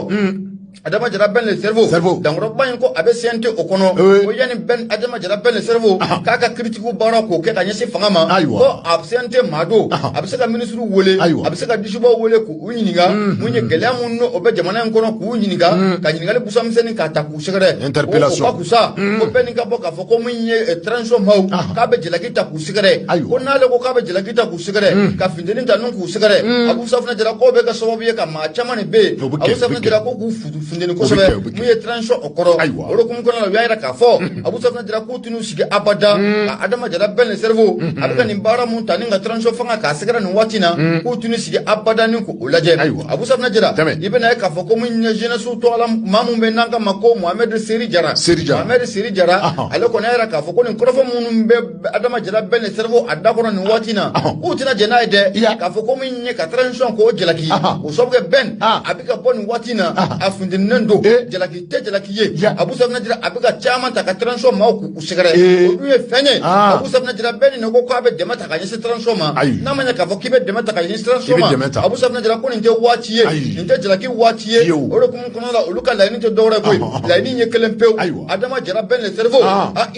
adama jara bɛn le cerveau cerveau dankɔrɔba in ko a bɛ CNT o kɔnɔ ko yanni bɛn adama jara bɛn le cerveau k'a ka critique baara k'o kɛ ka ɲɛsin fanga ma ko a CNT maa don a bɛ se ka minisiriw wele a bɛ se ka disibaw wele k'u ɲininka mun ye gɛlɛya minnu n'o bɛ jamana in kɔnɔ k'u ɲininka ka ɲininkali busamisɛnni k'a ta k'u sɛgɛrɛ o ka kusa ko bɛni ka bɔ k'a fɔ ko min ye transition maaw k'a bɛ jalaki ta k'u sɛgɛrɛ ko n'ale ko k'a bɛ jalaki ta k'u sɛgɛrɛ mm. ka finteni ta nin k'u sɛgɛrɛ mm. abu safinɛ jara k'o bɛ kɛ sababu ye ka maa caman de bɛ yen abu safinɛ jara ko k'u finteni kosɛbɛ mun ye transition o kɔrɔ o de kun kɔnɔna la u y'a yira k'a fɔ mm. abu safinɛ jara k'u tɛn'u sigi abada ka adama jara Ben le cerveau mm-hmm. a bɛ ka nin baara mun ta ni ka transition fanga k'a sɛgɛrɛ nin waati na k'u tɛn'u sigi abada ni k'o lajɛ abu safinɛ jara i bɛna ye k'a fɔ ko mun ye jeunesse tɔgɔla maa min bɛ n'an k'a ma ko mohamɛdi seri jara mohamɛdi seri jara ale kɔni y'a yira k'a fɔ ko nin kɔrɔfɔ minnu bɛ adama jara Ben le cerveau a da kɔnɔ nin waati na k'u tɛna jɛn n'a ye dɛ k'a fɔ ko mun ye ka transition k'o jalaki o sababu kɛ Ben a bɛ ka bɔ nin waati na a funteninnen don e. jalaki tɛ jalaki ye abu safinɛ jara a bɛ ka caman ta ka transition maaw k'u sɛgɛrɛ e. o dun ye fɛn ye abu safinɛ jara bɛɛ ni ko k'a bɛ dɛmɛ ta ka ɲɛsin transition ma n'a ma ɲɛ k'a fɔ k'i bɛ dɛmɛ ta ka ɲɛsin transition ma abu safinɛ jara ko nin tɛ waati ye nin tɛ jalaki waati ye o de kun kɔnɔ la olu ka laɲini tɛ dɔwɛrɛ koyi laɲini ye kelen pewu adama jara Ben le cerveau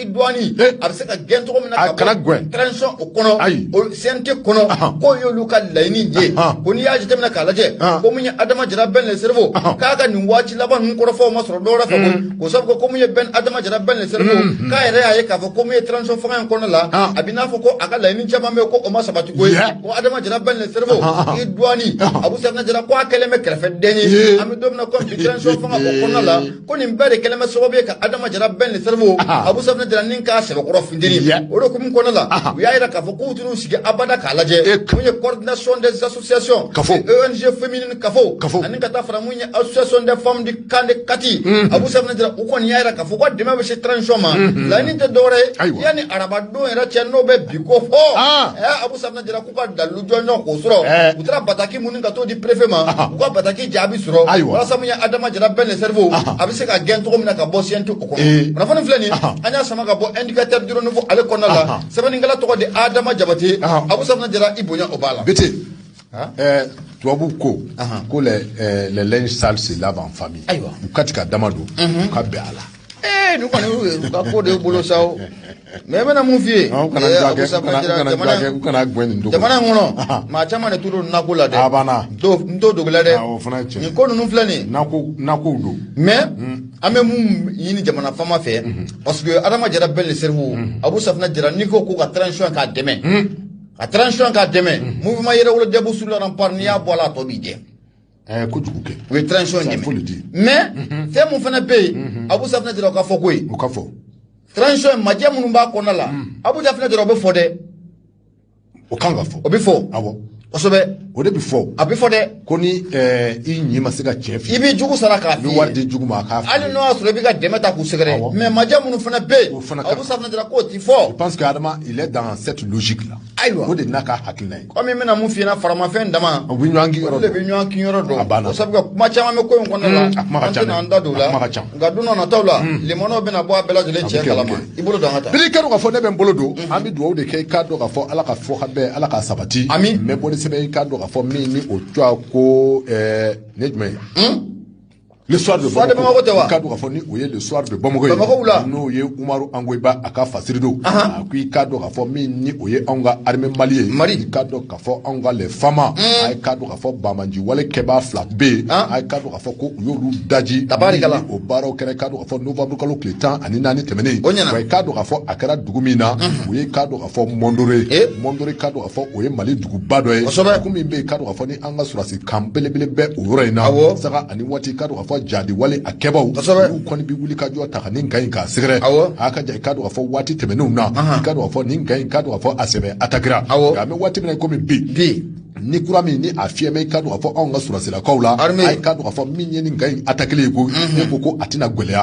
dɔɔni eh. a bɛ se ka gɛn cogo min na ka bɔ transition o kɔnɔ CNT kɔnɔ k'o y'olu ka laɲini ye ko n'i y'a jateminɛ k'a lajɛ ko mun ye Adama Jara Ben le cerveau k'a ka nin waati laban ninnu kɔrɔfɔw ma sɔrɔ dɔwɛrɛ fɛ koyi mm. ko sabu ko mun ye Ben Adama Jara Ben le cerveau mm-hmm. k'a yɛrɛ y'a ye k'a fɔ ko mun ye transition fanga in kɔnɔ la a bɛ n'a fɔ ko a ka laɲini caman bɛ yen ko o ma sabati koyi ko Adama Jara Ben le cerveau i dɔɔni Abu Safinɛ Jara ko a kɛlen bɛ kɛrɛfɛden ye an bɛ don min na komi bi transition fanga o kɔnɔna la ko nin bɛɛ de kɛlen bɛ sababu ye ka adama jara Ben le cerveau abu safinɛ jara ni k'a sɛbɛkɔrɔ funteni o de kun kɔnɔ la u y'a yira k'a fɔ k'u tɛn'u sigi abada k'a lajɛ mun ye coordination des associations ONG féminine CAFO ani ka taa fara mun ye association des femmes du camp de Kati abu safinɛ jara u kɔni y'a yira k'a fɔ ko dɛmɛ bɛ se transition ma laɲini tɛ dɔwɛrɛ ye yanni arabadon yɛrɛ cɛ n'o bɛ bi kofɔ abu safinɛ jara k'u ka dalilu jɔnjɔn k'o sɔrɔ eh. u taara bataki minnu ka t'o di préfet ma u ka bataki jaabi sɔrɔ walasa mun ye adama jara Ben le cerveau a bɛ se ka gɛn cogo min na ka bɔ CNT o kɔnɔ eh. kunnafoni filɛ nin an y'a sama ka bɔ indicateur du renouveau ale kɔnɔna la sɛbɛnnikɛla tɔgɔ de adama jabate abu safinɛ jara i bonya o b'a la bete eh, tubabu ko ko les linges sales se lavent en famille u ka ti ka dama don u ka bɛn a la ee nin kɔni u ka ko de y'u bolo sa o mais n bɛna mun f'i ye Ɔ, u kana ee, dulakɛ- Abusa u kana- u Badjira, kana jamana- dulakɛ- u kana guwɛn nin dogo. jamana in kɔnɔ maa caman de t'u don nako la dɛ A banna. n t'o n t'o dogo la dɛ Awɔ, o fana ye tiɲɛ. nin ko ninnu filɛ nin ye nako nakow don mais an bɛ mun ɲini jamana faama fɛ parce que adama jara Ben le cerveau abu safinɛ jara n'i ko ko ka transition k'a dɛmɛ ka transition k'a dɛmɛ mouvement yɛrɛwolo debout sur les remparts n'i y'a bɔ a la a tɔ b'i jɛ ɛɛ kojugu kɛ o ye transition in dɛmɛ mais mhm. fɛn mun fana bɛ yen mhm. abu safinɛ jara o ka fɔ koyi o ka fɔ transition in majɛ minnu b'a kɔnɔna la mhm. abu safinɛ jara o bɛ fɔ dɛ o kan ka fɔ o bɛ fɔ awɔ kosɛbɛ o de bɛ fɔ a bɛ fɔ dɛ ko ni ɛɛ i ɲi ma se ka tiɲɛ f'i ye i b'i jugu sara k'a f'i ye i bɛ wari d'i jugu ma a k'a f'i ye hali n'o y'a sɔrɔ i bɛ ka dɛmɛ ta k'u sɛgɛrɛ mais majɛ minnu fana bɛ yen abu safinɛ jara k'o ti fɔ je pense que adama il est dans cette logique là ayiwa o de n'a ka hakilina ye komi n bɛna mun f'i ɲɛna faramafɛn dama o bɛ ɲɔgɔn kin yɔrɔ dɔn de bɛ ɲɔgɔn kin yɔrɔ dɔn a banna sabu ka kuma caman bɛ ko in kɔnɔna la a kuma ka ca an tɛna an da don o la a kuma ka ca nka don nataw la limanaw bɛna bɔ a bɛɛ lajɛlen cɛ kalama i bolo don an ka taa bili i k'a dɔn k'a fɔ ne bɛ n bolo don an bɛ dugawu de kɛ i k'a dɔn k'a fɔ ala ka fɔ ka bɛn ala k'a sabati ami n bɛ bɔ ni sɛbɛn i k'a dɔn k'a fɔ min ni o tɔgɔ ko ne jumɛn ye le soir de soir de Bamako tɛ wa k'a dɔn k'a fɔ ni o ye le soir de Bamako ye Bamako la n'o ye Umaru Angoyiba a ka fasiri don a ko i k'a dɔn k'a fɔ min ni o ye anw ka armée Mali ye Mali i k'a dɔn k'a fɔ anw ka les FAMA hmm. a ye k'a dɔn k'a fɔ banbanci wale kɛbaa fila bɛ yen a ye k'a dɔn k'a fɔ ko u y'olu daji tabarikala o baaraw kɛra k'a dɔn k'a fɔ novembre kalo tile tan ani naani tɛmɛnen o ɲɛna wa i k'a dɔn k'a fɔ a kɛra dugu min na hmm. o ye k'a dɔn k'a fɔ Mondoro eh. Mondoro k'a dɔn k'a fɔ o ye Mali duguba dɔ ye kosɛbɛ dugu min bɛ yen k'a dɔn k'a fɔ ni an ka sɔrɔdasi kan belebele bɛ o yɔrɔ in na awɔ sanga ani waati k'a dɔn k'a fɔ jihadi wale a kɛbaw kosɛbɛ olu kɔni bɛ wuli ka jɔ taa ka nin kan in k'a sɛgɛrɛ awɔ a ka ja i k'a dɔn k'a fɔ waati tɛmɛnenw na i k'a dɔn k'a fɔ nin kan in k'a dɔn k'a fɔ a sɛbɛ atakira awɔ nka an bɛ waati min na komi bi bi ni kura min ni a fiyɛlen bɛ i k'a dɔn k'a fɔ anw ka sɔrɔdasilakaw la a ye k'a dɔn k'a fɔ min ye nin kan in atakili ye ko ne ko ko a tɛna gɛlɛya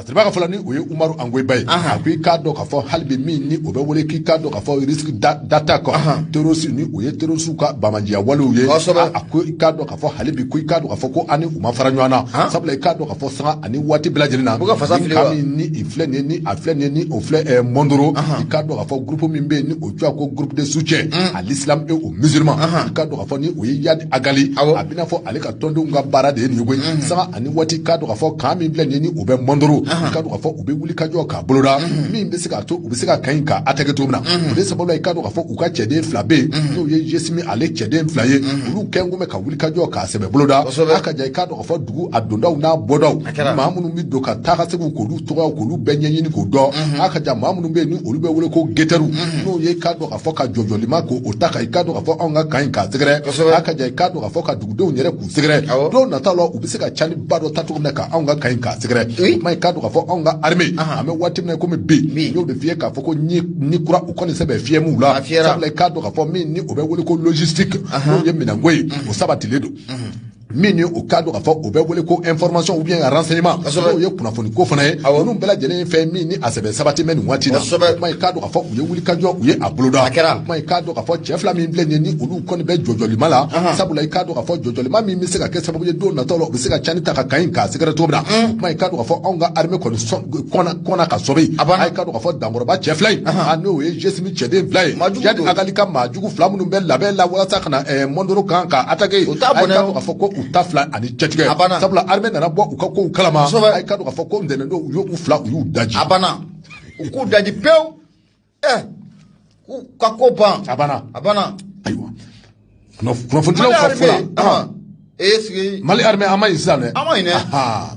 sabu a ka fɔ la ni o ye Umaru Angoyiba ye a ko i k'a dɔn k'a fɔ hali bi min ni o bɛ wele k'i k'a dɔn k'a fɔ risque d'attaque terroriste ni o ye terroriste ka banbanciya walew ye a ko i k'a dɔn k'a fɔ hali bi ko i k'a dɔn k'a fɔ ko an ni u ma fara ɲɔgɔn na sabula i k'a dɔn k'a fɔ sanga ani waati bɛɛ lajɛlen na ni i filɛ nin ye ni a filɛ nin ye ni o filɛ Mondoro i k'a dɔn k'a fɔ groupe min bɛ yen ni o tɔgɔ ko groupe de soutien à l'islam et aux musulmans i k'a dɔn k'a fɔ ni o ye Iyad Ag Ghali a bɛ i n'a fɔ ale ka tɔndenw ka baara de ye nin ko ye mhm. sanga ani waati k'a dɔn k'a fɔ kan min filɛ nin ye ni o bɛ Mondoro i k'a dɔn k'a fɔ u bɛ wuli ka jɔ k'a boloda mhm. min bɛ se k'a to u bɛ se ka kan in k'a attaquer cogo min na mhm. o de sababu la i k'a dɔn k'a fɔ u ka cɛden fila bɛ yen n'o ye jesimi ale cɛden fila ye olu kɔni tun bɛ ka wuli ka jɔ k'a sɛbɛ boloda a ka jan i k'a dɔn k'a fɔ dugu a dondaw n'a bɔdaw maa minnu bɛ don ka taa ka segin k'olu tɔgɔw k'olu bɛɛ ɲɛɲini k'o dɔn a ka jan maa minnu bɛ yen ni olu bɛ wele ko getɛriw n'o ye i k'a dɔn k'a fɔ ka jɔjɔlima k'o ta ka i k'a dɔn k'a fɔ anw ka kan in k'a sɛgɛrɛ a ka jan i k'a dɔn a fɔ ka dugudenw yɛrɛ k'u sɛgɛrɛ don nataw la u bɛ se ka cani ba dɔ ta cogo min na ka anw ka kan in k'a sɛgɛrɛ o tuma i k'a dɔn k'a fɔ anw ka armée an bɛ waati min na komi bi n y'o de f'i ye k'a fɔ ko ni kura u kɔni sɛbɛ fiyɛlen b'u la sabula i k'a dɔn k'a fɔ min ni o bɛ wele ko logistique n'o ye minɛnko ye o sabatilen don min ni o k'a dɔn k'a fɔ o bɛ wele ko information ou bien renseignement n'o ye kunnafoni ko fana ye ninnu bɛɛ lajɛlen ye fɛn min ni a sɛbɛ sabatilen bɛ nin waati la o tuma i k'a dɔn k'a fɔ u ye wulikajɔ u ye a boloda o tuma i k'a dɔn k'a fɔ cɛ fila min filɛ nin ye ni olu kɔni bɛ jɔjɔlima la sabula i k'a dɔn k'a fɔ jɔjɔlima min bɛ se ka kɛ sababu ye don nataw la u bɛ se ka cani ta ka kan in k'a sɛgɛrɛ cogo min na o tuma i k'a dɔn k'a fɔ anw ka armée kɔni sɔn kɔnna kɔnna ka sɔmi yen a banna i k'a dɔn k'a fɔ dankɔrɔba cɛ fila in a n'o ye jesimi cɛden fila ye Iyad Ag Ghali ka maa jugu fila minnu bɛ labɛn la walasa ka na Mondoro kan ka attaquer o t'a bɔnɛ a y'i k'a dɔn k'a fɔ ko u ta fila ani cɛtigɛ a banna sabula armée nana bɔ u ka kow kalama a y'i k'a dɔn k'a fɔ ko ntɛnɛndon u y'u fila u y'u daji a banna u k'u daji pewu ɛ k'u ka ko ban a banna a banna ayiwa kunnafonidilaw ka fɔ la esigi mali armée a man ɲi sisan dɛ a man ɲi dɛ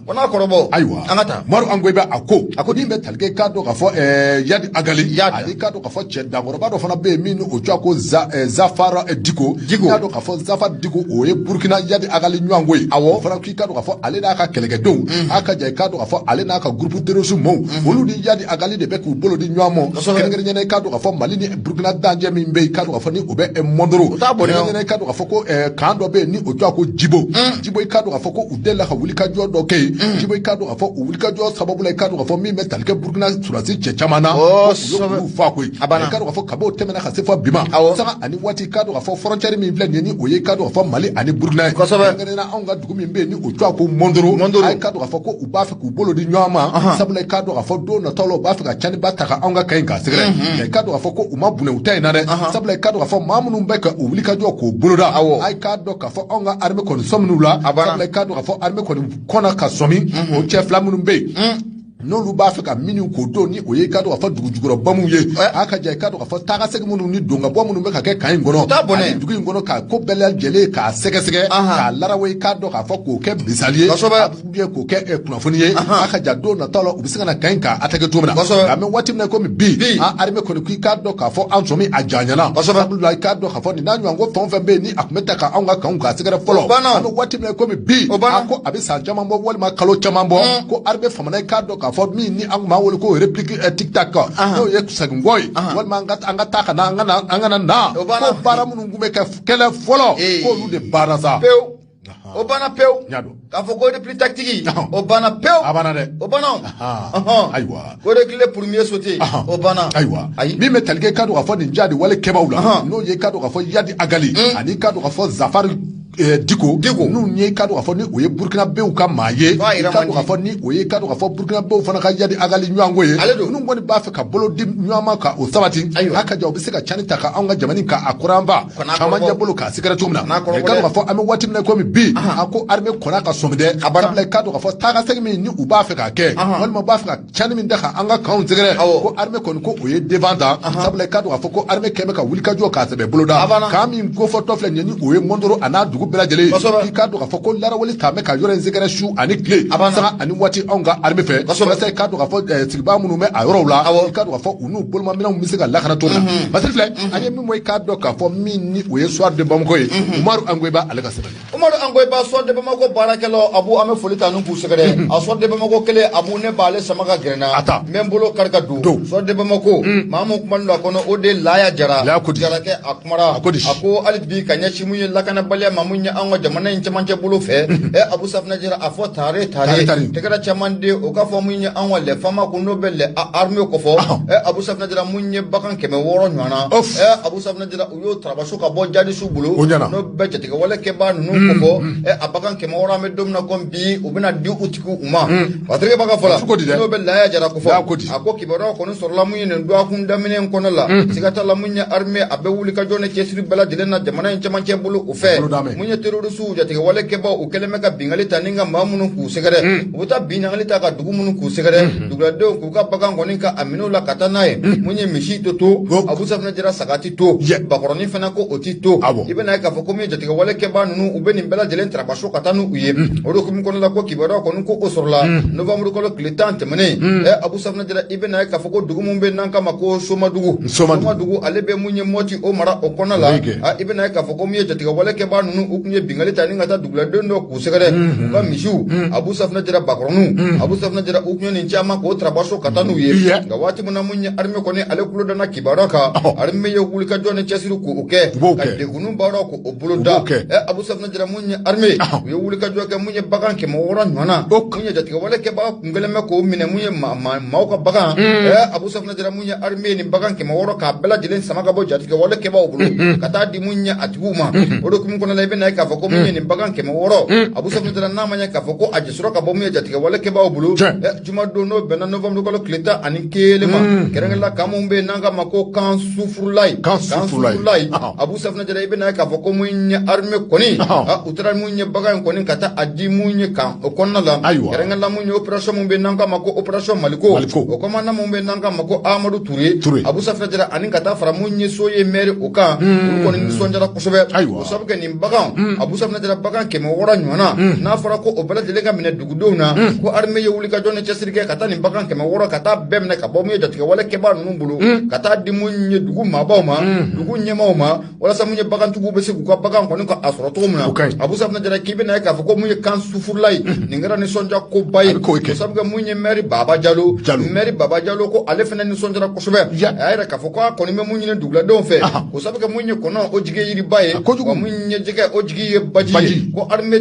o n'a kɔrɔbɔ ayiwa an ka taa umaru angoyiba a ko a ko min bɛ tali kɛ k'a dɔn k'a fɔ yadi agali yadi ani k'a dɔn k'a fɔ cɛ dankɔrɔba dɔ fana bɛ yen min ni o cogoya ko zafara diko diko k'a dɔn k'a fɔ zafara diko o ye burukina yadi agali ɲɔgɔnko ye awɔ i k'a dɔn k'a fɔ ale n'a ka kɛlɛkɛdenw mm. a ka ja i k'a dɔn k'a fɔ ale n'a ka groupe terroriste mɔɔw mm. olu ni yadi agali de bɛ k'u bolo di ɲɔgɔn ma kɛrɛnkɛrɛnnenya i k'a dɔn k'a fɔ mali ni burukina dancɛ min bɛ yen k'a dɔn k'a fɔ ni o bɛ eh, mɔndoro kɛrɛnkɛrɛnnenya i k'a dɔn k'a fɔ ko eh, kan dɔ bɛ yen ni o tɔgɔ ko jibo mm. jibo i k'a dɔn k'a fɔ ko u delila ka wulikajɔ dɔ kɛ yen jibo i k'a dɔn k'a fɔ u wulikajɔ sababu la i k'a dɔn k'a fɔ min bɛ tali kɛ burukina sɔrɔdasi cɛ caman na u y'olu fa koyi i k'a dɔn k'a fɔ kab'o tɛmɛna ka se fo bi ma sanga ani waati k'a dɔn k'a fɔ frontière min filɛ nin ye ni o ye k'a dɔn k'a fɔ Mali ani Burkina ye kosɛbɛ kɛrɛnkɛrɛnnenya la anw ka dugu min bɛ yen ni o tɔgɔ ko Mɔndoro Mɔndoro a ye k'a dɔn k'a fɔ ko u b'a fɛ k'u bolo di ɲɔgɔn ma ɔnhɔn sabula i k'a dɔn k'a fɔ don nataw la u b'a fɛ ka caniba ta ka anw ka kan in k'a sɛgɛrɛ nka i k'a dɔn k'a fɔ ko u ma bunɛ u ta in na dɛ ɔnhɔn sabula i k'a dɔn k'a fɔ maa minnu bɛ ka o wulikajɔ k'o boloda awɔ a ye k'a dɔn k'a fɔ anw ka armée kɔni sɔmin'u la a banna sabula i k'a dɔn k'a fɔ armée kɔni kɔnna ka sɔmi o cɛ fila minnu bɛ yen n'olu b'a fɛ ka minnu k'o don ni o ye k'a dɔn k'a fɔ dugu jukɔrɔ bamuw ye a ka ja i k'a dɔn k'a fɔ taakasegin minnu ni don ka bɔ minnu bɛ ka kɛ kan in kɔnɔ ani dugu in kɔnɔ k'a ko bɛɛ lajɛlen k'a sɛgɛsɛgɛ k'a larawa i k'a dɔn k'a fɔ k'o kɛ misali ye ou bien k'o kɛ eh, kunnafoni ye a ka ja don nataw la u bɛ se ka na kan in k'a attaquer cogo min na nka an bɛ waati min na komi bi an armée kɔni k'i k'a dɔn k'a fɔ an sɔmi a janyana sabula i k'a dɔn k'a fɔ nin n'a ɲɔgɔn ko fɛn o fɛn bɛ yen ni a tun bɛ ta ka anw ka kanw k'a sɛgɛrɛ fɔlɔ an bɛ waati min na komi bi a ko a bɛ san caman bɔ walima kalo caman bɔ mm. ko armée FAMa na ye k'a dɔn k'a fɔ min ni an tun b'a wele ko réplique eh, tic tac n'o ye seginkɔ ye walima an ka an ka taa ka na an ka na an kana na ko baara minnu tun bɛ kɛ kɛlɛ fɔlɔ k'olu de banna sa pewu o banna pewu k'a fɔ ko réplique tactique o banna pewu a banna dɛ o banna ayiwa ko de kile premier sauté o banna ayiwa ayi min bɛ tali kɛ k'a dɔn k'a fɔ nin jadi wale kɛbaaw la n'o ye k'a dɔn k'a fɔ yadi agali mm. ani k'a dɔn k'a fɔ zafari eh, diko diko n'o ye k'a dɔn k'a fɔ ni o ye burukinabew ka maa ye k'a dɔn k'a fɔ ni o ye k'a dɔn k'a fɔ burukinabew fana ka yadi agali ɲɔgɔnko ye ale don n'u kɔni b'a fɛ ka bolo di ɲɔgɔn ma ka o sabati a ka ja u bɛ se ka cani ta ka anw ka jamana kan kunba caman ɲɛ bolo k'a sɛgɛrɛ cogo min na k'a dɔn k'a fɔ an bɛ waati min na komi bi a ko armée kɔnna ka sɔmi dɛ sabula i k'a dɔn k'a fɔ taa ka segin min ni u b'a fɛ k'a kɛ walima u b'a fɛ ka cani min ta ka an ka kanw sɛgɛrɛ ko armée kɔni ko o ye devant ta sabula i k'a dɔn k'a fɔ ko armée kɛmɛ ka wulikajɔ k'a sɛbɛ boloda kan min kofɔtɔ filɛ nin ye ni o ye mɔndoro a n'a dugu bɛɛ lajɛlen k'i k'a dɔn k'a fɔ ko larawali t'a mɛn ka yɔrɔ in sɛgɛrɛ su ani tile sanga ani waati anw ka armée fɛ walasa i k'a dɔn k'a fɔ eh, sigibaa minnu bɛ a yɔrɔw la i k'a dɔn k'a fɔ u n'u bolomaminɛnw bɛ se ka lakana cogo min na masiri filɛ an ye min bɔ i k'a dɔn k'a fɔ min ni o ye soir de bamako ye umaru angoyiba ale ka sɛbɛn Umaru angoyiba Soir de Bamako baarakɛlaw abu an bɛ foli ta ni k'u sɛgɛrɛ a Soir de Bamako kelen abu ne b'ale sama ka gɛrɛ n na n bɛ n bolo kari ka don Soir de Bamako maa min kumana a kɔnɔ o de laya jara jarakɛ a kumara a ko a ko hali bi ka ɲɛsin mun ye lakanabaliya ma min ye an ka jamana in cɛmancɛ bolo fɛ ɛ abu safunɛ jara a fɔ tare tare tɛgɛrɛ caman de o k'a fɔ min ye an ka lɛ fama ko n'o bɛ lɛ arime kofɔ abu safunɛ jara mun ye bagan kɛmɛ wɔɔrɔ ɲɔgɔn na abu safunɛ jara u y'o tarabaso ka bɔ jadisiw bolo o ɲɛna n'o bɛ jatigɛwale kɛbaa ninnu mm, kofɔ mm. ɛ a bagan kɛmɛ wɔɔrɔ an bɛ don min na komi bi u bɛna di u tigiw u ma mm. patirike b'a ka fɔ la cogo di dɛ n'o bɛ laya jara kofɔ a ko di a ko kibaruyaw kɔni sɔrɔla mun ye nin dɔgɔkun daminɛ in kɔnɔ la siga t'a la mun ye arime a bɛ wuli ka jɔ ni cɛsiri bɛɛ lajɛlen na jamana in cɛmancɛ bolo u fɛ mun ye terorisiw jatigɛwale kɛbaaw u kɛlen bɛ ka bingali ta ni ka maa minnu k'u sɛgɛrɛ u bɛ taa bingali ta ka dugu minnu k'u sɛgɛrɛ duguladenw u ka bagan kɔni ka a minɛ u la ka taa n'a ye mun ye misi ti to abu safinɛ jara saga ti to bakɔrɔnin fana ko o ti to i bɛna ye k'a fɔ ko min ye jatigɛwale kɛbaa ninnu u bɛ nin bɛɛ lajɛlen tarabaso ka taa n'u ye o de hukumu kɔnɔna la ko kibaruya kɔni ko o sɔrɔla novembre kalo tile tan tɛmɛnen ɛ abu safinɛ jara i bɛna ye k'a fɔ ko dugu min bɛ n'an k'a ma ko somadugu somadugu ale bɛ mun ye mɔti o mara o kɔnɔna la i bɛna ye k'a fɔ ko min ye jatigɛwale kɛbaa ninnu u tun ye bingali ta ni ka taa duguladen dɔ sɛgɛrɛ u ka misiw abu safunɛ jara bakɔrɔninw abu safunɛ jara u tun ye nin caman k'o tarabaso ka taa n'u ye Iya. nka waati min na mun ye arime kɔni ale kulo danna kibaruya kan arime ye wulikajɔ ni cɛsiri k'o kɛ U b'o ka kɛ. degunni baara k'o boloda b'o kɛ. ɛ abu safunɛ jara mun ye arime u ye wulikajɔ kɛ mun ye bagan kɛmɛ wɔɔrɔ ɲɔgɔnna O ka- mun ye jatigɛwale kɛbaga kun kɛlen bɛ k'o minɛ mun ye maa- maa- maaw ka bagan ɛ abu safunɛ Jara mun ye arime nin bagan kɛmɛ wɔɔrɔ k'a bɛɛ lajɛlen sama ka bɔ jatigɛ wale kɛbaaw bolo ka taa di min ye a tigiw ma o de hukumu kɔnɔna la i bɛna ye k'a fɔ ko min ye nin bagan kɛmɛ wɔɔrɔ abu safunɛ jara n'a ma ye k'a fɔ ko a ɲɛsɔrɔ ka bɔ min ye jatigɛ wale kɛbaaw bolo juma don n'o bɛnna novembre kalo tile tan ani kelen ma kɛrɛnkɛrɛnna kan min bɛ n'an k'a ma ko kan sufurulayi kan sufurulayi abu safunɛ jara i bɛna ye k'a fɔ ko min ye arime kɔni u taara mun ye bagan in kɔni ka taa a di mun ye kan o kɔnɔna la ayiwa kɛrɛnkɛrɛnna mun ye opération mun bɛ n'an k'a ma ko opération maliko maliko o kɔmandan mun bɛ n'an k'a ma ko amadu ture ture abu safinɛ jara ani ka taa fara mun ye soye mɛri o kan olu kɔni nisɔndiyara kosɛbɛ ayiwa o sabu kɛ nin bagan abu safinɛ jara bagan kɛmɛ wɔɔrɔ ɲɔgɔnna n'a fɔra ko o bɛɛ lajɛlen ka minɛ dugudenw na ko armée ye wulikajɔ ni cɛsiri kɛ ka taa nin bagan kɛmɛ wɔɔrɔ ka taa bɛɛ minɛ ka bɔ mun ye jatigɛwale kɛbaa ninnu bolo ka taa di mun ye dugu maabaw ma dugu ɲɛmaaw ma walasa mun ye bagantigiw bɛ se k'u ka bagan kɔni ka a sɔrɔ cogo min na abu safinɛ jara k'i bɛna ye k'a fɔ ko mun ye kan sufurulayi nin kɛra nisɔndiya koba ye o sabu kɛ mun ye mɛri baba jalo mɛri baba jalo ko ale fana nisɔndiyara kosɛbɛ a y'a yira k'a fɔ ko a kɔni bɛ mun ɲini duguladenw fɛ ko sabu kɛ mun ye kɔnɔ o jigi ye yiriba ye kojugu mun ye jɛgɛ o jigi ye baji ye ko armée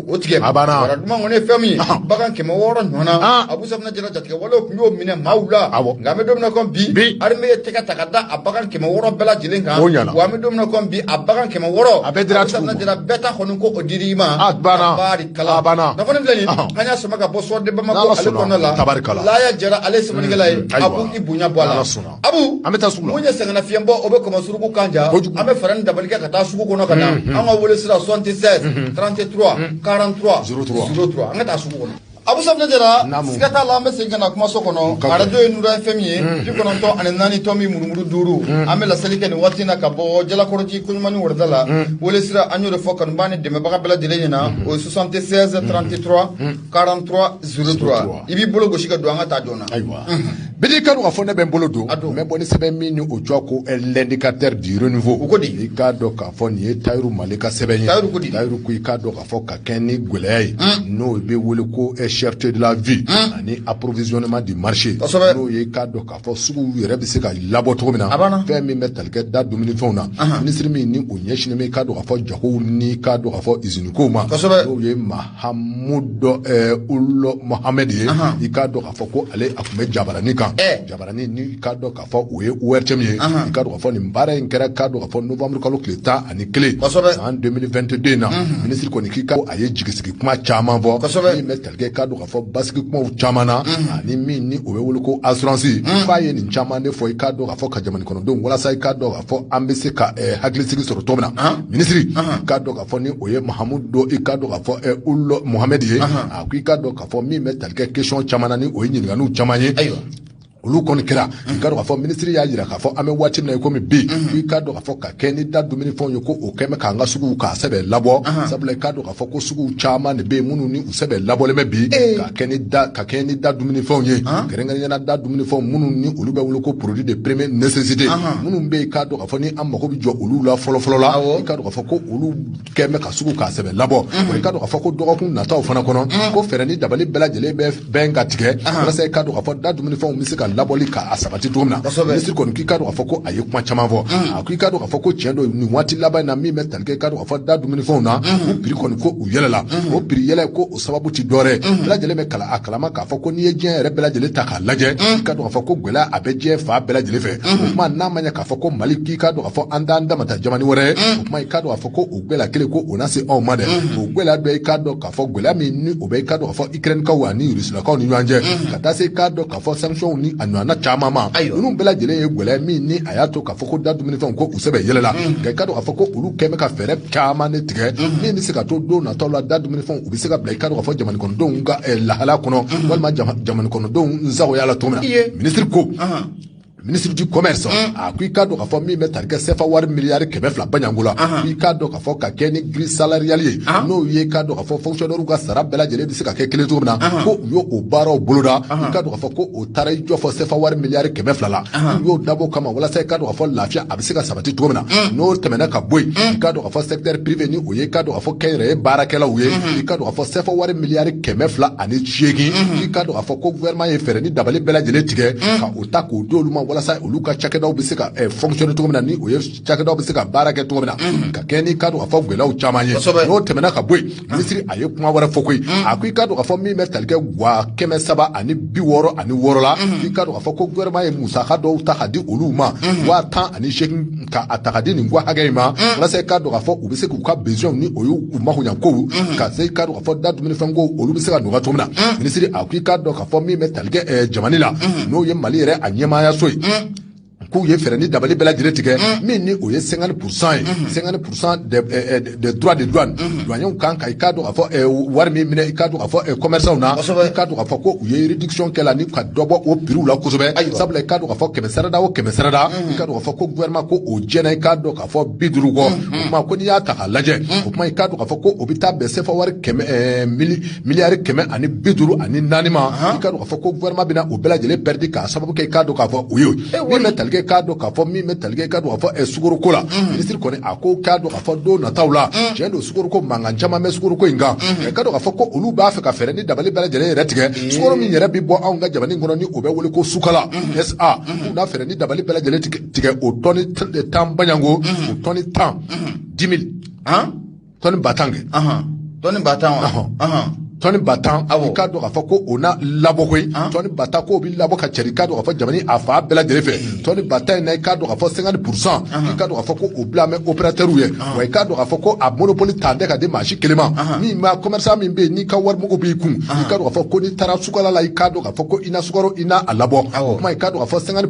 o tigɛ a banna duman kɔni ye fɛn min ye bagan kɛmɛ wɔɔrɔ ɲɔgɔnna abu safinɛ jara jatigɛ walew tun y'o minɛ maaw la nka an bɛ don min komi bi armée ye tɛgɛ ta ka da a bagan kɛmɛ wɔɔrɔ bɛɛ lajɛlen kan o ɲɛna wa an bɛ don min komi bi a bagan kɛmɛ wɔɔrɔ a bɛɛ dira abu safinɛ jara bɛɛ ta kɔni ko o dir'i ma a banna tabarikala a banna nafolo filɛ nin an y'a sama ka bɔ soir de bamako ale kɔnɔna la tabarikala laya jara ale ye sɛbɛnnikɛla ye abu i bonya bɔ a la Abu an bɛ taa sugu la, mun ye sɛgɛnnafiɲɛbɔ o bɛ kɔmɔ suruku kan ja, kojugu, an bɛ fɛɛrɛ ni dabali kɛ ka taa sugu kɔnɔ ka na, unhun, an ka wele sira 76 33 43 03 03 an ka taa sugu kɔnɔ Abu Safinɛ Jara, naamu, siga t'a la an bɛ segin ka na kumaso kɔnɔ, arajo ye Nura FM ye, unhun, bi kɔnɔntɔn ani naani tɔmi murumuru duuru, unhun, an bɛ laseli kɛ nin waati in na ka bɔ Jalakɔrɔji Koɲumani wɔrɔda la, unhun, wele sira an y'o de fɔ kanubaa ni dɛmɛnbaga bɛɛ lajɛlen ɲɛna, unhun, o ye 76 33 43 03 i b'i bolo gosi ka don an ka taa joona ayiwa bidi i k'a dɔn k'a fɔ ne bɛ n bolo don n bɛ bɔ ni sɛbɛn min ni o tɔgɔ ko l'indicateur du renouveau o ko di i k'a dɔn k'a fɔ nin ye tayiru male ka sɛbɛn ye tayiru ko di tayiru ko i k'a dɔn k'a fɔ ka kɛɲɛ ni gɛlɛya ye n'o bɛ wele ko cherté de la vie ani approvisionnement du marché n'o ye i k'a dɔn k'a fɔ suguw yɛrɛ bɛ se ka labɔ cogo min na fɛn min bɛ tali kɛ da dumunifɛnw na minisiri min ni o ɲɛsinnen bɛ i k'a dɔn k'a fɔ jagow ni i k'a dɔn k'a fɔ usine kow ma n'o ye ma hamudu ulu mohamɛd ye i k'a dɔn k'a fɔ ko ale a tun bɛ jabarani kan jabarani ni i k'a dɔn k'a fɔ o ye ORTM ye i k'a dɔn k'a fɔ nin baara in kɛra k'a dɔn k'a fɔ novembre kalo tile tan ani kelen san 2022 in na minisiri kɔni k'i ka a ye jigisigi kuma caman fɔ min bɛ tali kɛ k'a dɔn k'a fɔ basigi kumaw caman na ani min ni o bɛ wele ko assurance k'a ye nin caman de fɔ i k'a dɔn k'a fɔ ka jamana kɔnɔdenw walasa i k'a dɔn k'a fɔ an bɛ se ka hakilisigi sɔrɔ cogo min na minisiri k'a dɔn a fɔ ni o ye mahamudu i ka dɔn k'a fɔ eh, ulu mohamɛdi ye a ko i ka dɔn k'a fɔ min bɛ tali kɛ question caman na ni o ye ɲininkaliw caman ye olu kɔni kɛra i ka dɔn k'a fɔ minisiri y'a jira k'a fɔ an bɛ waati min na i komi bi fo i ka dɔn k'a fɔ ka kɛɲɛ ni da dumuni fɛnw ye ko o kɛlen bɛ k'an ka suguw k'a sɛbɛ labɔ sabula i ka dɔn k'a fɔ ko suguw caman de bɛ yen minnu ni u sɛbɛ labɔlen bɛ bi ka kɛɲɛ ni da ka kɛɲɛ ni da dumuni fɛnw ye kɛrɛnkɛrɛnnenya la da dumuni fɛnw minnu ni olu bɛ wele ko produit de première nécessité minnu bɛ yen i ka dɔn k'a fɔ ni an mago bɛ jɔ olu la fɔlɔfɔlɔ la i ka dɔn A fɔ ko olu kɛlen bɛ ka sugu k'a sɛbɛ labɔ i ka dɔn k'a fɔ ko dɔgɔkun nataw fana kɔnɔ ko fɛɛrɛ ni dabali bɛɛ lajɛlen bɛ bɛn ka tigɛ walasa i ka dɔn k'a fɔ da dumunifɛnw bɛ se ka labɔli k'a sabati cogo min na minisiri kɔni k'i ka dɔn k'a fɔ ko a ye kuma caman fɔ a ko i ka dɔn k'a fɔ ko tiɲɛ don nin waati laban in na min bɛ tali kɛ i ka dɔn k'a fɔ da dumunifɛnw na ko prix kɔni ko u yɛlɛla o prix yɛlɛ ko sababu ti dɔwɛrɛ mhm. bɛɛ lajɛlen bɛ a kalama k'a fɔ ko n'i ye diɲɛ yɛrɛ bɛɛ lajɛlen ta k'a lajɛ mhm. i ka dɔn k'a fɔ ko gɛlɛya a bɛ diɲɛ fan bɛɛ lajɛlen fɛ mhm. o kuma na an b'a ye k'a fɔ ko mali k'i ka dɔn k'a fɔ an t'an damata jamani wɛrɛ o kuma i ka dɔn k'a fɔ ko o gɛlɛya kelen ko o na se anw ma dɛ o gɛlɛya dɔ i ka dɔn k'a fɔ gɛlɛya min ni o bɛ i ka dɔn k'a fɔ ikirɛnikaw ani rusilakaw ni ɲɔgɔn cɛ ka taa se i ka dɔn a fɔ sanctions ni a ɲɔgɔnna caman ma ninnu bɛɛ lajɛlen ye gɛlɛya min ni a y'a to k'a fɔ ko da dumunifɛnw ko u sɛbɛ yɛlɛla mm. nka i k'a dɔn k'a fɔ ko olu kɛlen bɛ ka fɛɛrɛ caman de tigɛ mm. min bɛ se ka to don nataw la da dumunifɛnw u bɛ se ka bila i k'a dɔn k'a fɔ jamana kɔnɔdenw ka eh, lahala kɔnɔ mm. walima jamana kɔnɔdenw nsagoya la cogo min na minisiri ko minisiri du commerce mm. a ko i k'a dɔn k'a fɔ min bɛ tali kɛ sefa wari miliyari kɛmɛ fila baɲango la i k'a dɔn k'a fɔ ka kɛ ni grille salariale ye n'o ye k'a dɔn k'a fɔ fonctionnaire ka sara bɛɛ lajɛlen bɛ se ka kɛ kelen cogo min na ko u y'o o baaraw boloda i k'a dɔn k'a fɔ ko o taara i jɔ fɔ sefa wari miliyari kɛmɛ fila la u y'o dabɔ kama walasa i k'a dɔn k'a fɔ lafiya a bɛ se ka sabati cogo min na mm. n'o tɛmɛna ka bɔ yen mm. i k'a dɔn k'a fɔ secteur privé ni o ye k'a dɔn k'a fɔ kɛnyɛrɛye baarakɛlaw ye mm-hmm. i k'a dɔn k'a fɔ sefa wari miliyari kɛmɛ fila ani seegin mm-hmm. i k'a dɔn k'a fɔ ko gouvernement ye fɛɛrɛ ni dabali bɛɛ lajɛlen tigɛ mm. o ta k'o di olu ma walasa olu ka cakɛdaw bɛ se ka eh, fonctionner cogo min na ni o ye cakɛdaw bɛ se ka baara kɛ cogo min na mm-hmm. ka kɛ n'i k'a dɔn k'a fɔ gɛlɛyaw caman ye n'o tɛmɛna ka bɔ yen mm-hmm. minisiri a ye kuma wɛrɛ fɔ koyi mm-hmm. a ko i k'a dɔn k'a fɔ min bɛ tali kɛ wa kɛmɛ saba ani bi wɔɔrɔ ani wɔɔrɔ la i k'a dɔn k'a fɔ ko gouvernement ye musaka dɔw ta ka di olu ma wa tan ani seegin ka a ta ka di nin gwa hakɛ in ma walasa i k'a dɔn k'a fɔ u bɛ se k'u ka besoin ni o y'u makoɲɛkow ka se i k'a dɔn k'a fɔ da dumunifɛn ko olu bɛ se ka nɔgɔya cogo min na minisiri a ko i k'a dɔn a fɔ min bɛ tali kɛ eh, jamana la mm. n'o ye mali yɛrɛ a ɲɛmaayaso ye mm. k'u ye fɛɛrɛ ni dabali bɛɛ lajɛlen tigɛ mm. min ni o ye cinquante pour cent ye mm-hmm. cinquante pour cent de eh, eh, des droits de douane mm-hmm. douaniers kan ka i k'a dɔn k'a fɔ eh, wari min minɛ i k'a dɔn k'a fɔ commerçants na i k'a dɔn k'a fɔ ko u ye réduction kɛ la ni ka dɔ bɔ o prix la kosɛbɛ sabula i k'a dɔn k'a fɔ kɛmɛ sarada o kɛmɛ sarada mm-hmm. i k'a dɔn k'a fɔ ko gouvernement ko o jɛna i k'a dɔn a fɔ bi duuru kɔ o kuma ko n'i y'a ta k'a lajɛ o kuma i k'a dɔn k'a fɔ ko o bɛ taa bɛn sefa wari kɛmɛ ɛɛ mili miliyari kɛmɛ ani bi duuru ani naani ma i k'a dɔn k'a fɔ ko gouvernement bɛna o bɛɛ lajɛlen pɛridi k'a sababu kɛ i k'a dɔn k'a fɔ o ye min bɛ tali kɛ i k'a dɔn k'a fɔ min bɛ tali kɛ i k'a dɔn k'a fɔ ɛɛ sukoroko la minisiri kɔni a ko k'a dɔn k'a fɔ don nataw la tiɲɛ don sukoroko mankan caman bɛ sukoroko in kan i k'a dɔn k'a fɔ ko olu b'a fɛ ka fɛɛrɛ ni dabali bɛɛ lajɛlen yɛrɛ tigɛ sukoro min yɛrɛ bɛ bɔ anw ka jamana in kɔnɔ ni o bɛ wele ko sukala sa u na fɛɛrɛ ni dabali bɛɛ lajɛlen tigɛ tigɛ o tɔni tan baɲango o tɔni tan dix mille tɔni ba tan kɛ tɔni ba tan wa tɔni ba tan i k'a dɔn k'a fɔ ko o na labɔ koyi tɔni ba tan k'o bɛ labɔ ka cari i k'a dɔn k'a fɔ jamana a fan bɛɛ lajɛlen fɛ tɔni ba tan in na i k'a dɔn k'a fɔ cinquante pour cent i k'a dɔn k'a fɔ ko o bilalen bɛ opérateurs ye wa i k'a dɔn k'a fɔ ko a monopole tɛ ta ka di maa si kelen ma min b'a commerçant min bɛ yen n'i ka warimugu b'i kun i k'a dɔn k'a fɔ ko n'i taara sukala la i k'a dɔn k'a fɔ ko i na sukaro i na a labɔ o tuma i k'a dɔn k'a fɔ cinquante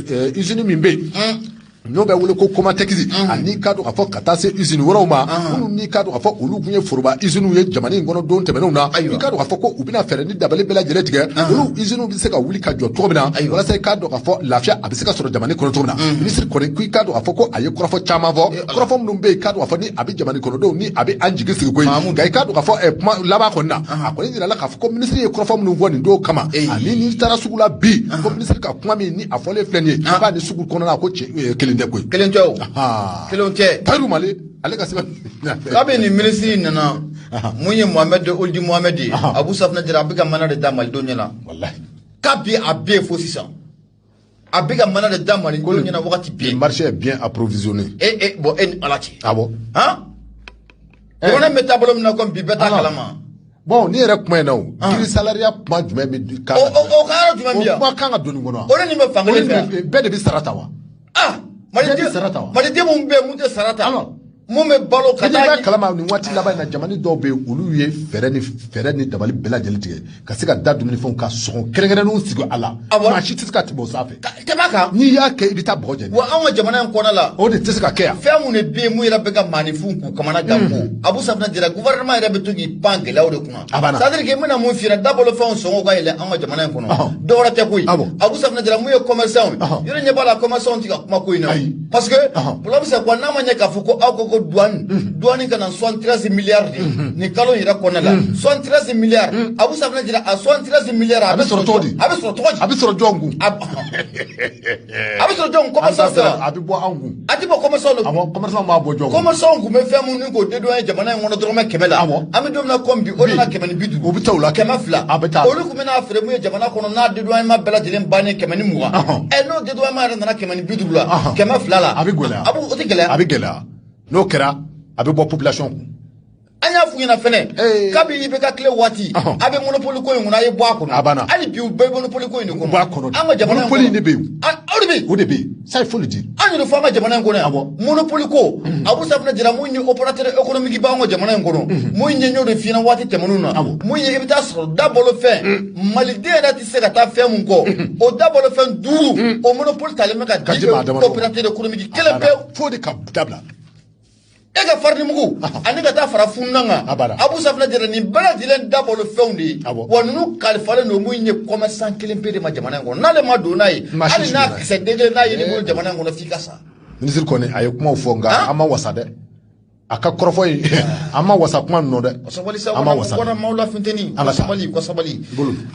izini min bɛ yen n'o bɛ wele ko komatɛkisi ani ka don ka fɔ ka taa se izini wɛrɛw ma minnu n'i ka don ka fɔ olu tun ye foroba iziniw ye jamana in kɔnɔ don tɛmɛnenw na i ka don ka fɔ ko u bɛna fɛɛrɛ ni dabali bɛɛ lajɛlen tigɛ olu iziniw bɛ se ka wuli ka jɔ cogo min na walasa i ka don ka fɔ lafiya a bɛ se ka sɔrɔ jamana kɔnɔ cogo min na minisiri kɔni ko i ka don ka fɔ ko a ye kɔrɔfɔ caman fɔ kɔrɔfɔ minnu bɛ yen ka don ka fɔ ni a bɛ jamana kɔnɔdenw ni a bɛ an jigi sigi ko nka i ka don ka fɔ kuma laban kɔni na a kɔni jirala k'a fɔ ko minisiri ye kɔrɔfɔ minnu fɔ nin don kama ani n'i taara sugu la bi ko minisiri ka kuma min ni a fɔlen filɛ nin ye k'a ni sugu kɔnɔna ko kelen tɛ koyi kelen tɛ o kelen tɛ tayiru male ale ka sɛbɛn kabi nin minisiri nana mun ye mohamɛdi olidi mohamɛdi ye abu safinɛ jara a bɛ ka maana de da malidenw ɲɛ na kabi a bɛ yen fo sisan a bɛ ka maana de da malidenw ɲɛ na wagati bɛɛ marché est bien approvisionné e e bon e ni ala cɛ ah bon han jamana bɛ taabolo min na komi bi bɛɛ t'a kalama bɔn ne yɛrɛ kuma in na o ah. grille salariale kuma jumɛn bɛ kan ka don o kan jumɛn bɛ yan o kuma kan ka don nin kɔnɔ o de nin bɛ fan kelen fɛ bɛɛ de bɛ sara ta wa ah maliden sara ta wa maliden minnu bɛ mun tɛ sara ta alors mun bɛ balo ka taa ɲɛ kalama nin waati laban in na jamana dɔw bɛ yen olu ye fɛɛrɛ ni fɛɛrɛ ni dabali bɛɛ lajɛlen tigɛ ka se ka da dumunifɛnw ka sɔngɔ kɛrɛnkɛrɛnnenw sigi a la maa si tɛ se ka tɛmɛ o sanfɛ tɛmɛ kan n'i y'a kɛ i bɛ taa bɔgɔ jɛ wa anw ka jamana in kɔnɔ la o de tɛ se ka kɛ yan fɛn mun de bɛ yen mun yɛrɛ bɛ ka maaninfinw k'u kamana gan ko hmm. Abu Safinɛ Jara gouvernement yɛrɛ bɛ to k'i pan gɛlɛyaw de kunna a banna c'est à dire que n bɛna mun f'i ɲɛna dabalo fɛnw sɔngɔw ka yɛlɛ anw ka jamana in kɔnɔ dɔwɛrɛ tɛ koyi Abu Safinɛ Jara mun ye commerçant ye yɔrɔ ɲɛ b'a la commerçant tɛ ka kuma ko in na parce que problème c'est quoi n'a ma ɲɛ k'a fɔ ko aw ko ko douane douane ka na soixante treize milliards de nin kalo in yɛrɛ kɔnɔna la soixante treize milliards Abu Safinɛ Jara a soixante treize milliards a bɛ sɔrɔ cogo di a bɛ sɔrɔ cogo di a bɛ sɔrɔ jɔn kun a bɛ sɔrɔ jɔn kun commerçant sera a bɛ bɔ anw kun a tɛ bɔ commerçant de kun awɔ commerçant b'a bɔ jɔn kun commerçant kun bɛ fɛn mun ni k'o dédouaner jamana in kɔnɔ dɔrɔmɛ kɛmɛ la awɔ an bɛ don min na komi bi o nana kɛmɛ ni bi duuru o bɛ taa o la kɛmɛ fila a bɛ taa olu kun bɛ n'a feere mun ye jamana kɔnɔ n'a dédouanement bɛɛ lajɛlen bannen kɛmɛ ni mugan ɛ n'o dédouanement yɛrɛ nana kɛmɛ bi duuru la Ahan. kɛmɛ fila la a bɛ gɛlɛya a b'o- o tɛ gɛlɛya a bɛ gɛlɛya n'o kɛra a bɛ bɔ population kun an y'a f'u ɲɛna fɛnɛ Ee. kabi IBK tile waati Ɔhɔn. a bɛ monopole ko in kɔnɔ a ye bɔ a kɔnɔ A banna. hali bi u bɛ monopole ko in de kɔnɔ U b'a kɔnɔ de. an ka jamana in Monopole in de bɛ yen. An- aw de bɛ yen o de bɛ yen ça il faut le dire an yɛrɛ fɔ an ka jamana in kɔnɔ yan Awɔ. monopole ko abu safinɛ jara mun ye opérateur économique b'an ka jamana in kɔnɔ mun ye n y'o de f'i ɲɛna waati tɛmɛnenw na Awɔ. mun ye i bɛ taa sɔrɔ dabalo fɛn maliden yɛrɛ tɛ se ka taa fɛn mun kɔ o dabalo fɛn duuru o monopole talen bɛ ka di opérateur économique kelen pewu fo de ka dabila e ka farinimugu ani ka taa fara fununnan kan abu safinɛ jara nin bɛɛ lajɛlen dabalo fɛnw de ye wa ninnu kalifalen don mun ye commerçant kelen pe de ma jamana in kɔnɔ n'ale ma don n'a ye hali n'a kisɛ den kelen n'a ye nin bolo jamana in kɔnɔ f'i ka sa minisiri kɔni a ye kumaw fɔ nka an ma wasa dɛ a ka kɔrɔfɔ ye an ma wasa kuma ninnu dɛ an ma wasa kɔnɔ maaw la funteni an ka sabali u ka sabali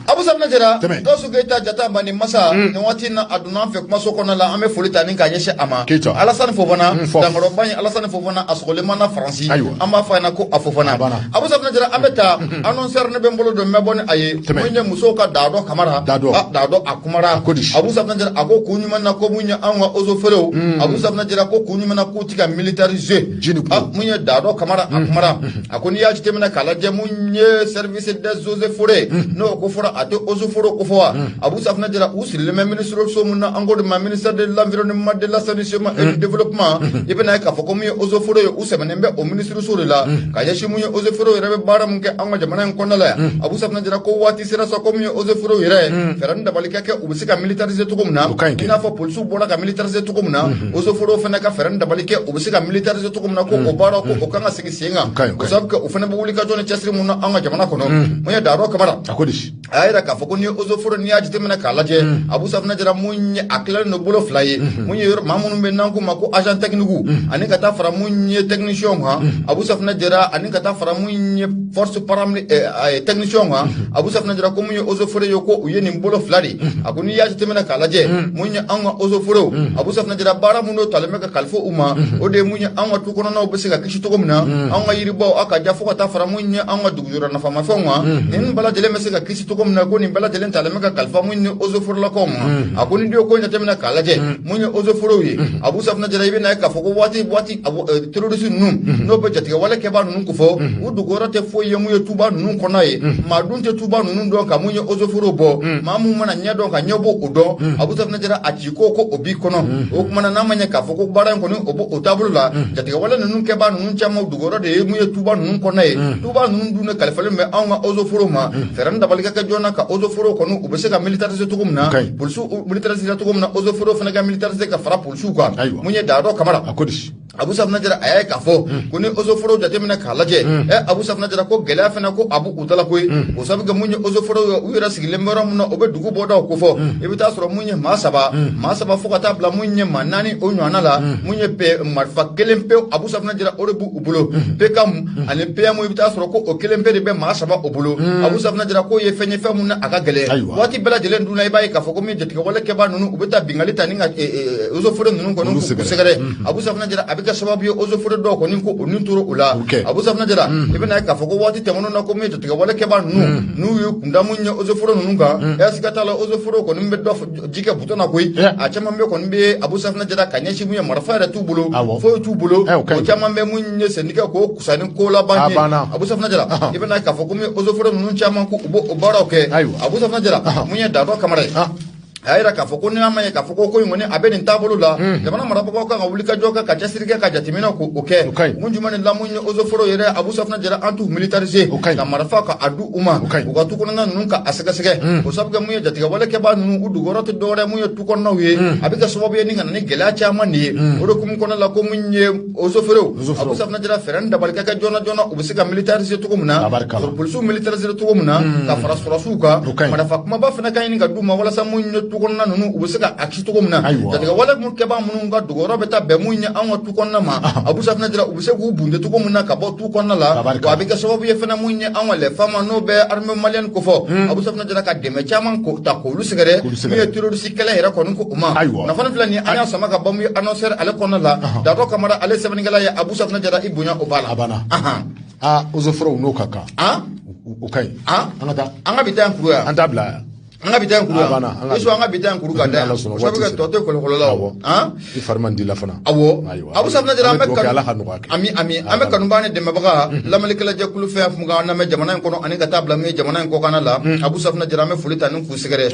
abu safinɛ jara gawusu keyita jata mani masa mm. nin waati na a donna an fɛ kumaso kɔnɔ la an bɛ foli ta ni k'a ɲɛsin a ma alasani fofana mm, dankɔrɔba ye alasani fofana a sɔgɔlen mana faransi an b'a fɔ a ɲɛna ko a fofana abu safinɛ jara an bɛ taa mm, annonceur ne bɛ n bolo don n bɛ bɔ ni a ye mun ye musow ka daadɔ kamara daadɔ ah, a kumara abu safinɛ jara a ko kun jumɛn na ko mun ye anw ka eaux et forêts abu safinɛ jara ko kun jumɛn na ti ka militariser jini kun ah, mun ye daadɔ kamara a kumara a ko n'i y'a jateminɛ k'a lajɛ mun ye service des eaux et forêts n'o ko fɔra a tɛ eaux et forêts ko fɔ wa abu safunɛ jara u sirilen bɛ ministre so mun na an k'o de ma ministère de l'environnement de l'assainissement et du développement i bɛna ye k'a fɔ ko mun ye eaux et forêts ye u sɛmɛnen bɛ o ministre so de la ka ɲɛsin mun ye eaux et forêts yɛrɛ bɛ baara mun kɛ an ka jamana in kɔnɔna la yan abu safunɛ jara ko waati sera sa ko mun ye eaux et forêts yɛrɛ fɛɛrɛ ni dabali ka kɛ u bɛ se ka militariser cogo min na O ka ɲi kɛ. i n'a fɔ polisiw bɔra ka militariser cogo min na eaux et forêts fana ka fɛɛrɛ ni dabali kɛ u bɛ se ka militariser cogo min na ko o baara ko o kan ka sigi sen O ka ɲi, o ka kan ɲi. o sabu kɛ o fana bɛ wuli ka jɔ ni cɛsiri mun na an ka jamana kɔnɔ mun ye daadɔ kamara a ko di a y'a jira k'a fɔ ko ni eaux et forêts n'i y'a jateminɛ k'a lajɛ abu safinɛ jara mun ye a tilalen don bolo fila ye mun ye yɔrɔ maa minnu bɛ n'an k'u ma ko agent technique ani ka taa fara mun ye technicien kan abu safinɛ jara ani ka taa fara mun ye force paramili eh, a ye technicien kan abu safinɛ jara ko mun ye eaux et forêts ye ko u ye nin bolo fila de a ko n'i y'a jateminɛ k'a lajɛ mun ye anw ka eaux et foretw abu safinɛ jara baara minnu don talen bɛ ka kalifa u ma o de ye mun ye anw ka tu kɔnɔnaw bɛ se ka kisi cogo min na anw ka yiribaw a ka ja fo ka taa fara mun ye anw ka dugujukɔrɔ nafamafɛnw kan nin bɛɛ lajɛlen bɛ se ka kisi cogo min na ko nin bɛɛ lajɛlen talen bɛ ka kalifa mun ye eaux et forelakaw ma a ko n'i dun ye ko in jateminɛ k'a lajɛ mun ye eaux et foretw ye abu safinɛ jara i bɛ na ye k'a fɔ ko waati waati terroriste ninnu n'o bɛ jatigɛwale kɛbaa ninnu ko fɔ u dogoyɔrɔ tɛ foyi ye mun ye tuba ninnu kɔnɔ ye maa dun tɛ tuba ninnu dɔn ka mun ye eaux et forêts bɔ maa mun mana ɲɛ dɔn ka ɲɛ bɔ o dɔn abu safinɛ jara a ci ko ko o b'i kɔnɔ o kumana n'a ma ɲɛ k'a fɔ ko baara in kɔni o b'o o taabolo la jatigɛwale ninnu kɛbaa ninnu caman dogoyɔrɔ de ye mun ye tuba ninnu kɔnɔ ye tuba ninnu dun de kalifalen bɛ anw ka eaux et forêts ma fɛɛrɛ ni dabali ka kɛ joona ka eaux et forêts kɔni u bɛ se ka militariser cogo min na polisiw militarisera cogo min na eaux et forêts fana ka militariser ka fara su kan mun ye daadɔ kamara a ko di abu safina jara a y'a ye k'a fɔ hmm. ko ni eaux et forêts jateminɛ k'a lajɛ ɛ hmm. eh, abu safina jara ko gɛlɛya fana ko a b'u da la koyi hmm. o sabu kɛ mun ye eaux et forêts ye u yɛrɛ sigilen bɛ yɔrɔ min na o bɛ dugu bɔdaw ko fɔ i bɛ taa sɔrɔ mun ye maa saba maa saba fo ka taa bila mun ye maa naani o ɲɔgɔnna la mun ye marifa kelen pewu abu safina jara o de b'u u bolo PKM ani PM i bɛ taa sɔrɔ ko o kelen pe de bɛ maa saba o bolo abu safunɛ jara k'o ye fɛn ye fɛn mun na a ka gɛlɛn Ayiwa. waati bɛɛ lajɛlen dun na i b'a ye k'a fɔ ko min jatigɛwale kɛbaa ninnu u bɛ taa binkanni ta ni ka eaux et forêts ninnu kɔni Olu k'u sɛgɛrɛ. sɛgɛrɛ abu safunɛ jara a bɛ kɛ sababu ye eaux et forêts dɔw kɔni ko olu tora o la Ok. abu safunɛ jara i bɛna ye k'a fɔ ko waati tɛmɛnenw na ko min jatigɛwale kɛbaa ninnu n'u ye kun da mun ye eaux et forêts ninnu kan siga t'a la eaux et forêts kɔni bɛ dɔ f- ji kɛ butɔn na koyi Yeah. a caman bɛ kɔni bɛ abu safinɛ jara ka ɲɛsin mun ye marifa yɛrɛ t'u bolo Awɔ. foyi t'u bolo Eh, o ka ɲi. o caman bɛ mun ye sɛnɛni kɛ k'o kusa ni ko laban A ye banna. abu safinɛ jara Ahan. i bɛna ye k'a fɔ komi ozoforo ninnu caman ko u b'o o baaraw kɛ Ayiwa. abu safinɛ jara Ahan. mun ye dadɔ kamara ye Ah. a y'a jira k'a fɔ ko n'a ma ye k'a fɔ ko ko in kɔni a bɛ nin taabolo la jamana marabagaw kan ka wuli ka jɔ kɛ ka cɛsiri kɛ ka jateminɛ ko o kɛ O ka ɲi. mun jumɛn de la mun ye ozoforo yɛrɛ abu safinɛ jara an t'u militarize o ka ɲi ka marifa ka a di u ma o ka ɲi u ka tu kɔnɔna ninnu ka a sɛgɛsɛgɛ hmm. o sabu kɛ mun ye jatigɛwale kɛbaa ninnu u dugukɔrɔ tɛ dɔwɛrɛ mun ye tu kɔnɔnaw ye hmm. a bɛ kɛ sababu ye ni ka na ni gɛlɛya caman de ye hmm. o de hukumu kɔnɔna la ko mun ye ozoforow abu safinɛ jara fɛɛrɛ ni dabali ka kɛ joona joona u bɛ se ka militarize cogo min na polisiw militarize cogo min na ka fara sɔrɔsiw kan marifa kumaba fana ka ɲini ka d'u ma walasa mun ye tu kɔnɔna ninnu u bɛ se ka a kisi cogo min na jatigɛwale mun kɛbaa minnu ka dugukɔrɔ bɛ taa bɛn mun ye an ka tu kɔnɔna ma abu safinɛ jara u bɛ se k'u bunte cogo min na ka bɔ tu kɔnɔna la wa a bɛ kɛ sababu ye fana mun ye an ka les FAMa n'o bɛ armée malienne kofɔ abu safinɛ jara ka dɛmɛ caman ta k'olu sɛgɛrɛ min ye terroriste kɛlɛ yɛrɛ kɔni ko u ma nafa filɛ nin an y'a sama ka bɔ mun ye annonceur ale kɔnɔna la dadɔ kamara ale sɛbɛnnikɛla ye abu safinɛ jara i bonya o b'a la a banna aa ozoforo n'o ka kan o ka ɲi an ka taa an ka bi ta yan kuru yan an t'a bila yan an ka bi ta kuru an ka bi ta kuru ka da yan sabu ka tɔ to kolokolo la awɔ i fari man di la fana awɔ abu safinɛ jara an bɛ kanu ala ka nɔgɔya kɛ ami ami an bɛ kanubaa ni dɛmɛbaga lamɛnnikɛla jɛkulu fɛn o fɛn k'an lamɛn jamana in kɔnɔ ani ka taa bila mun ye jamana in kɔkanna la abu safinɛ jara an bɛ foli ta ni k'u sɛgɛrɛ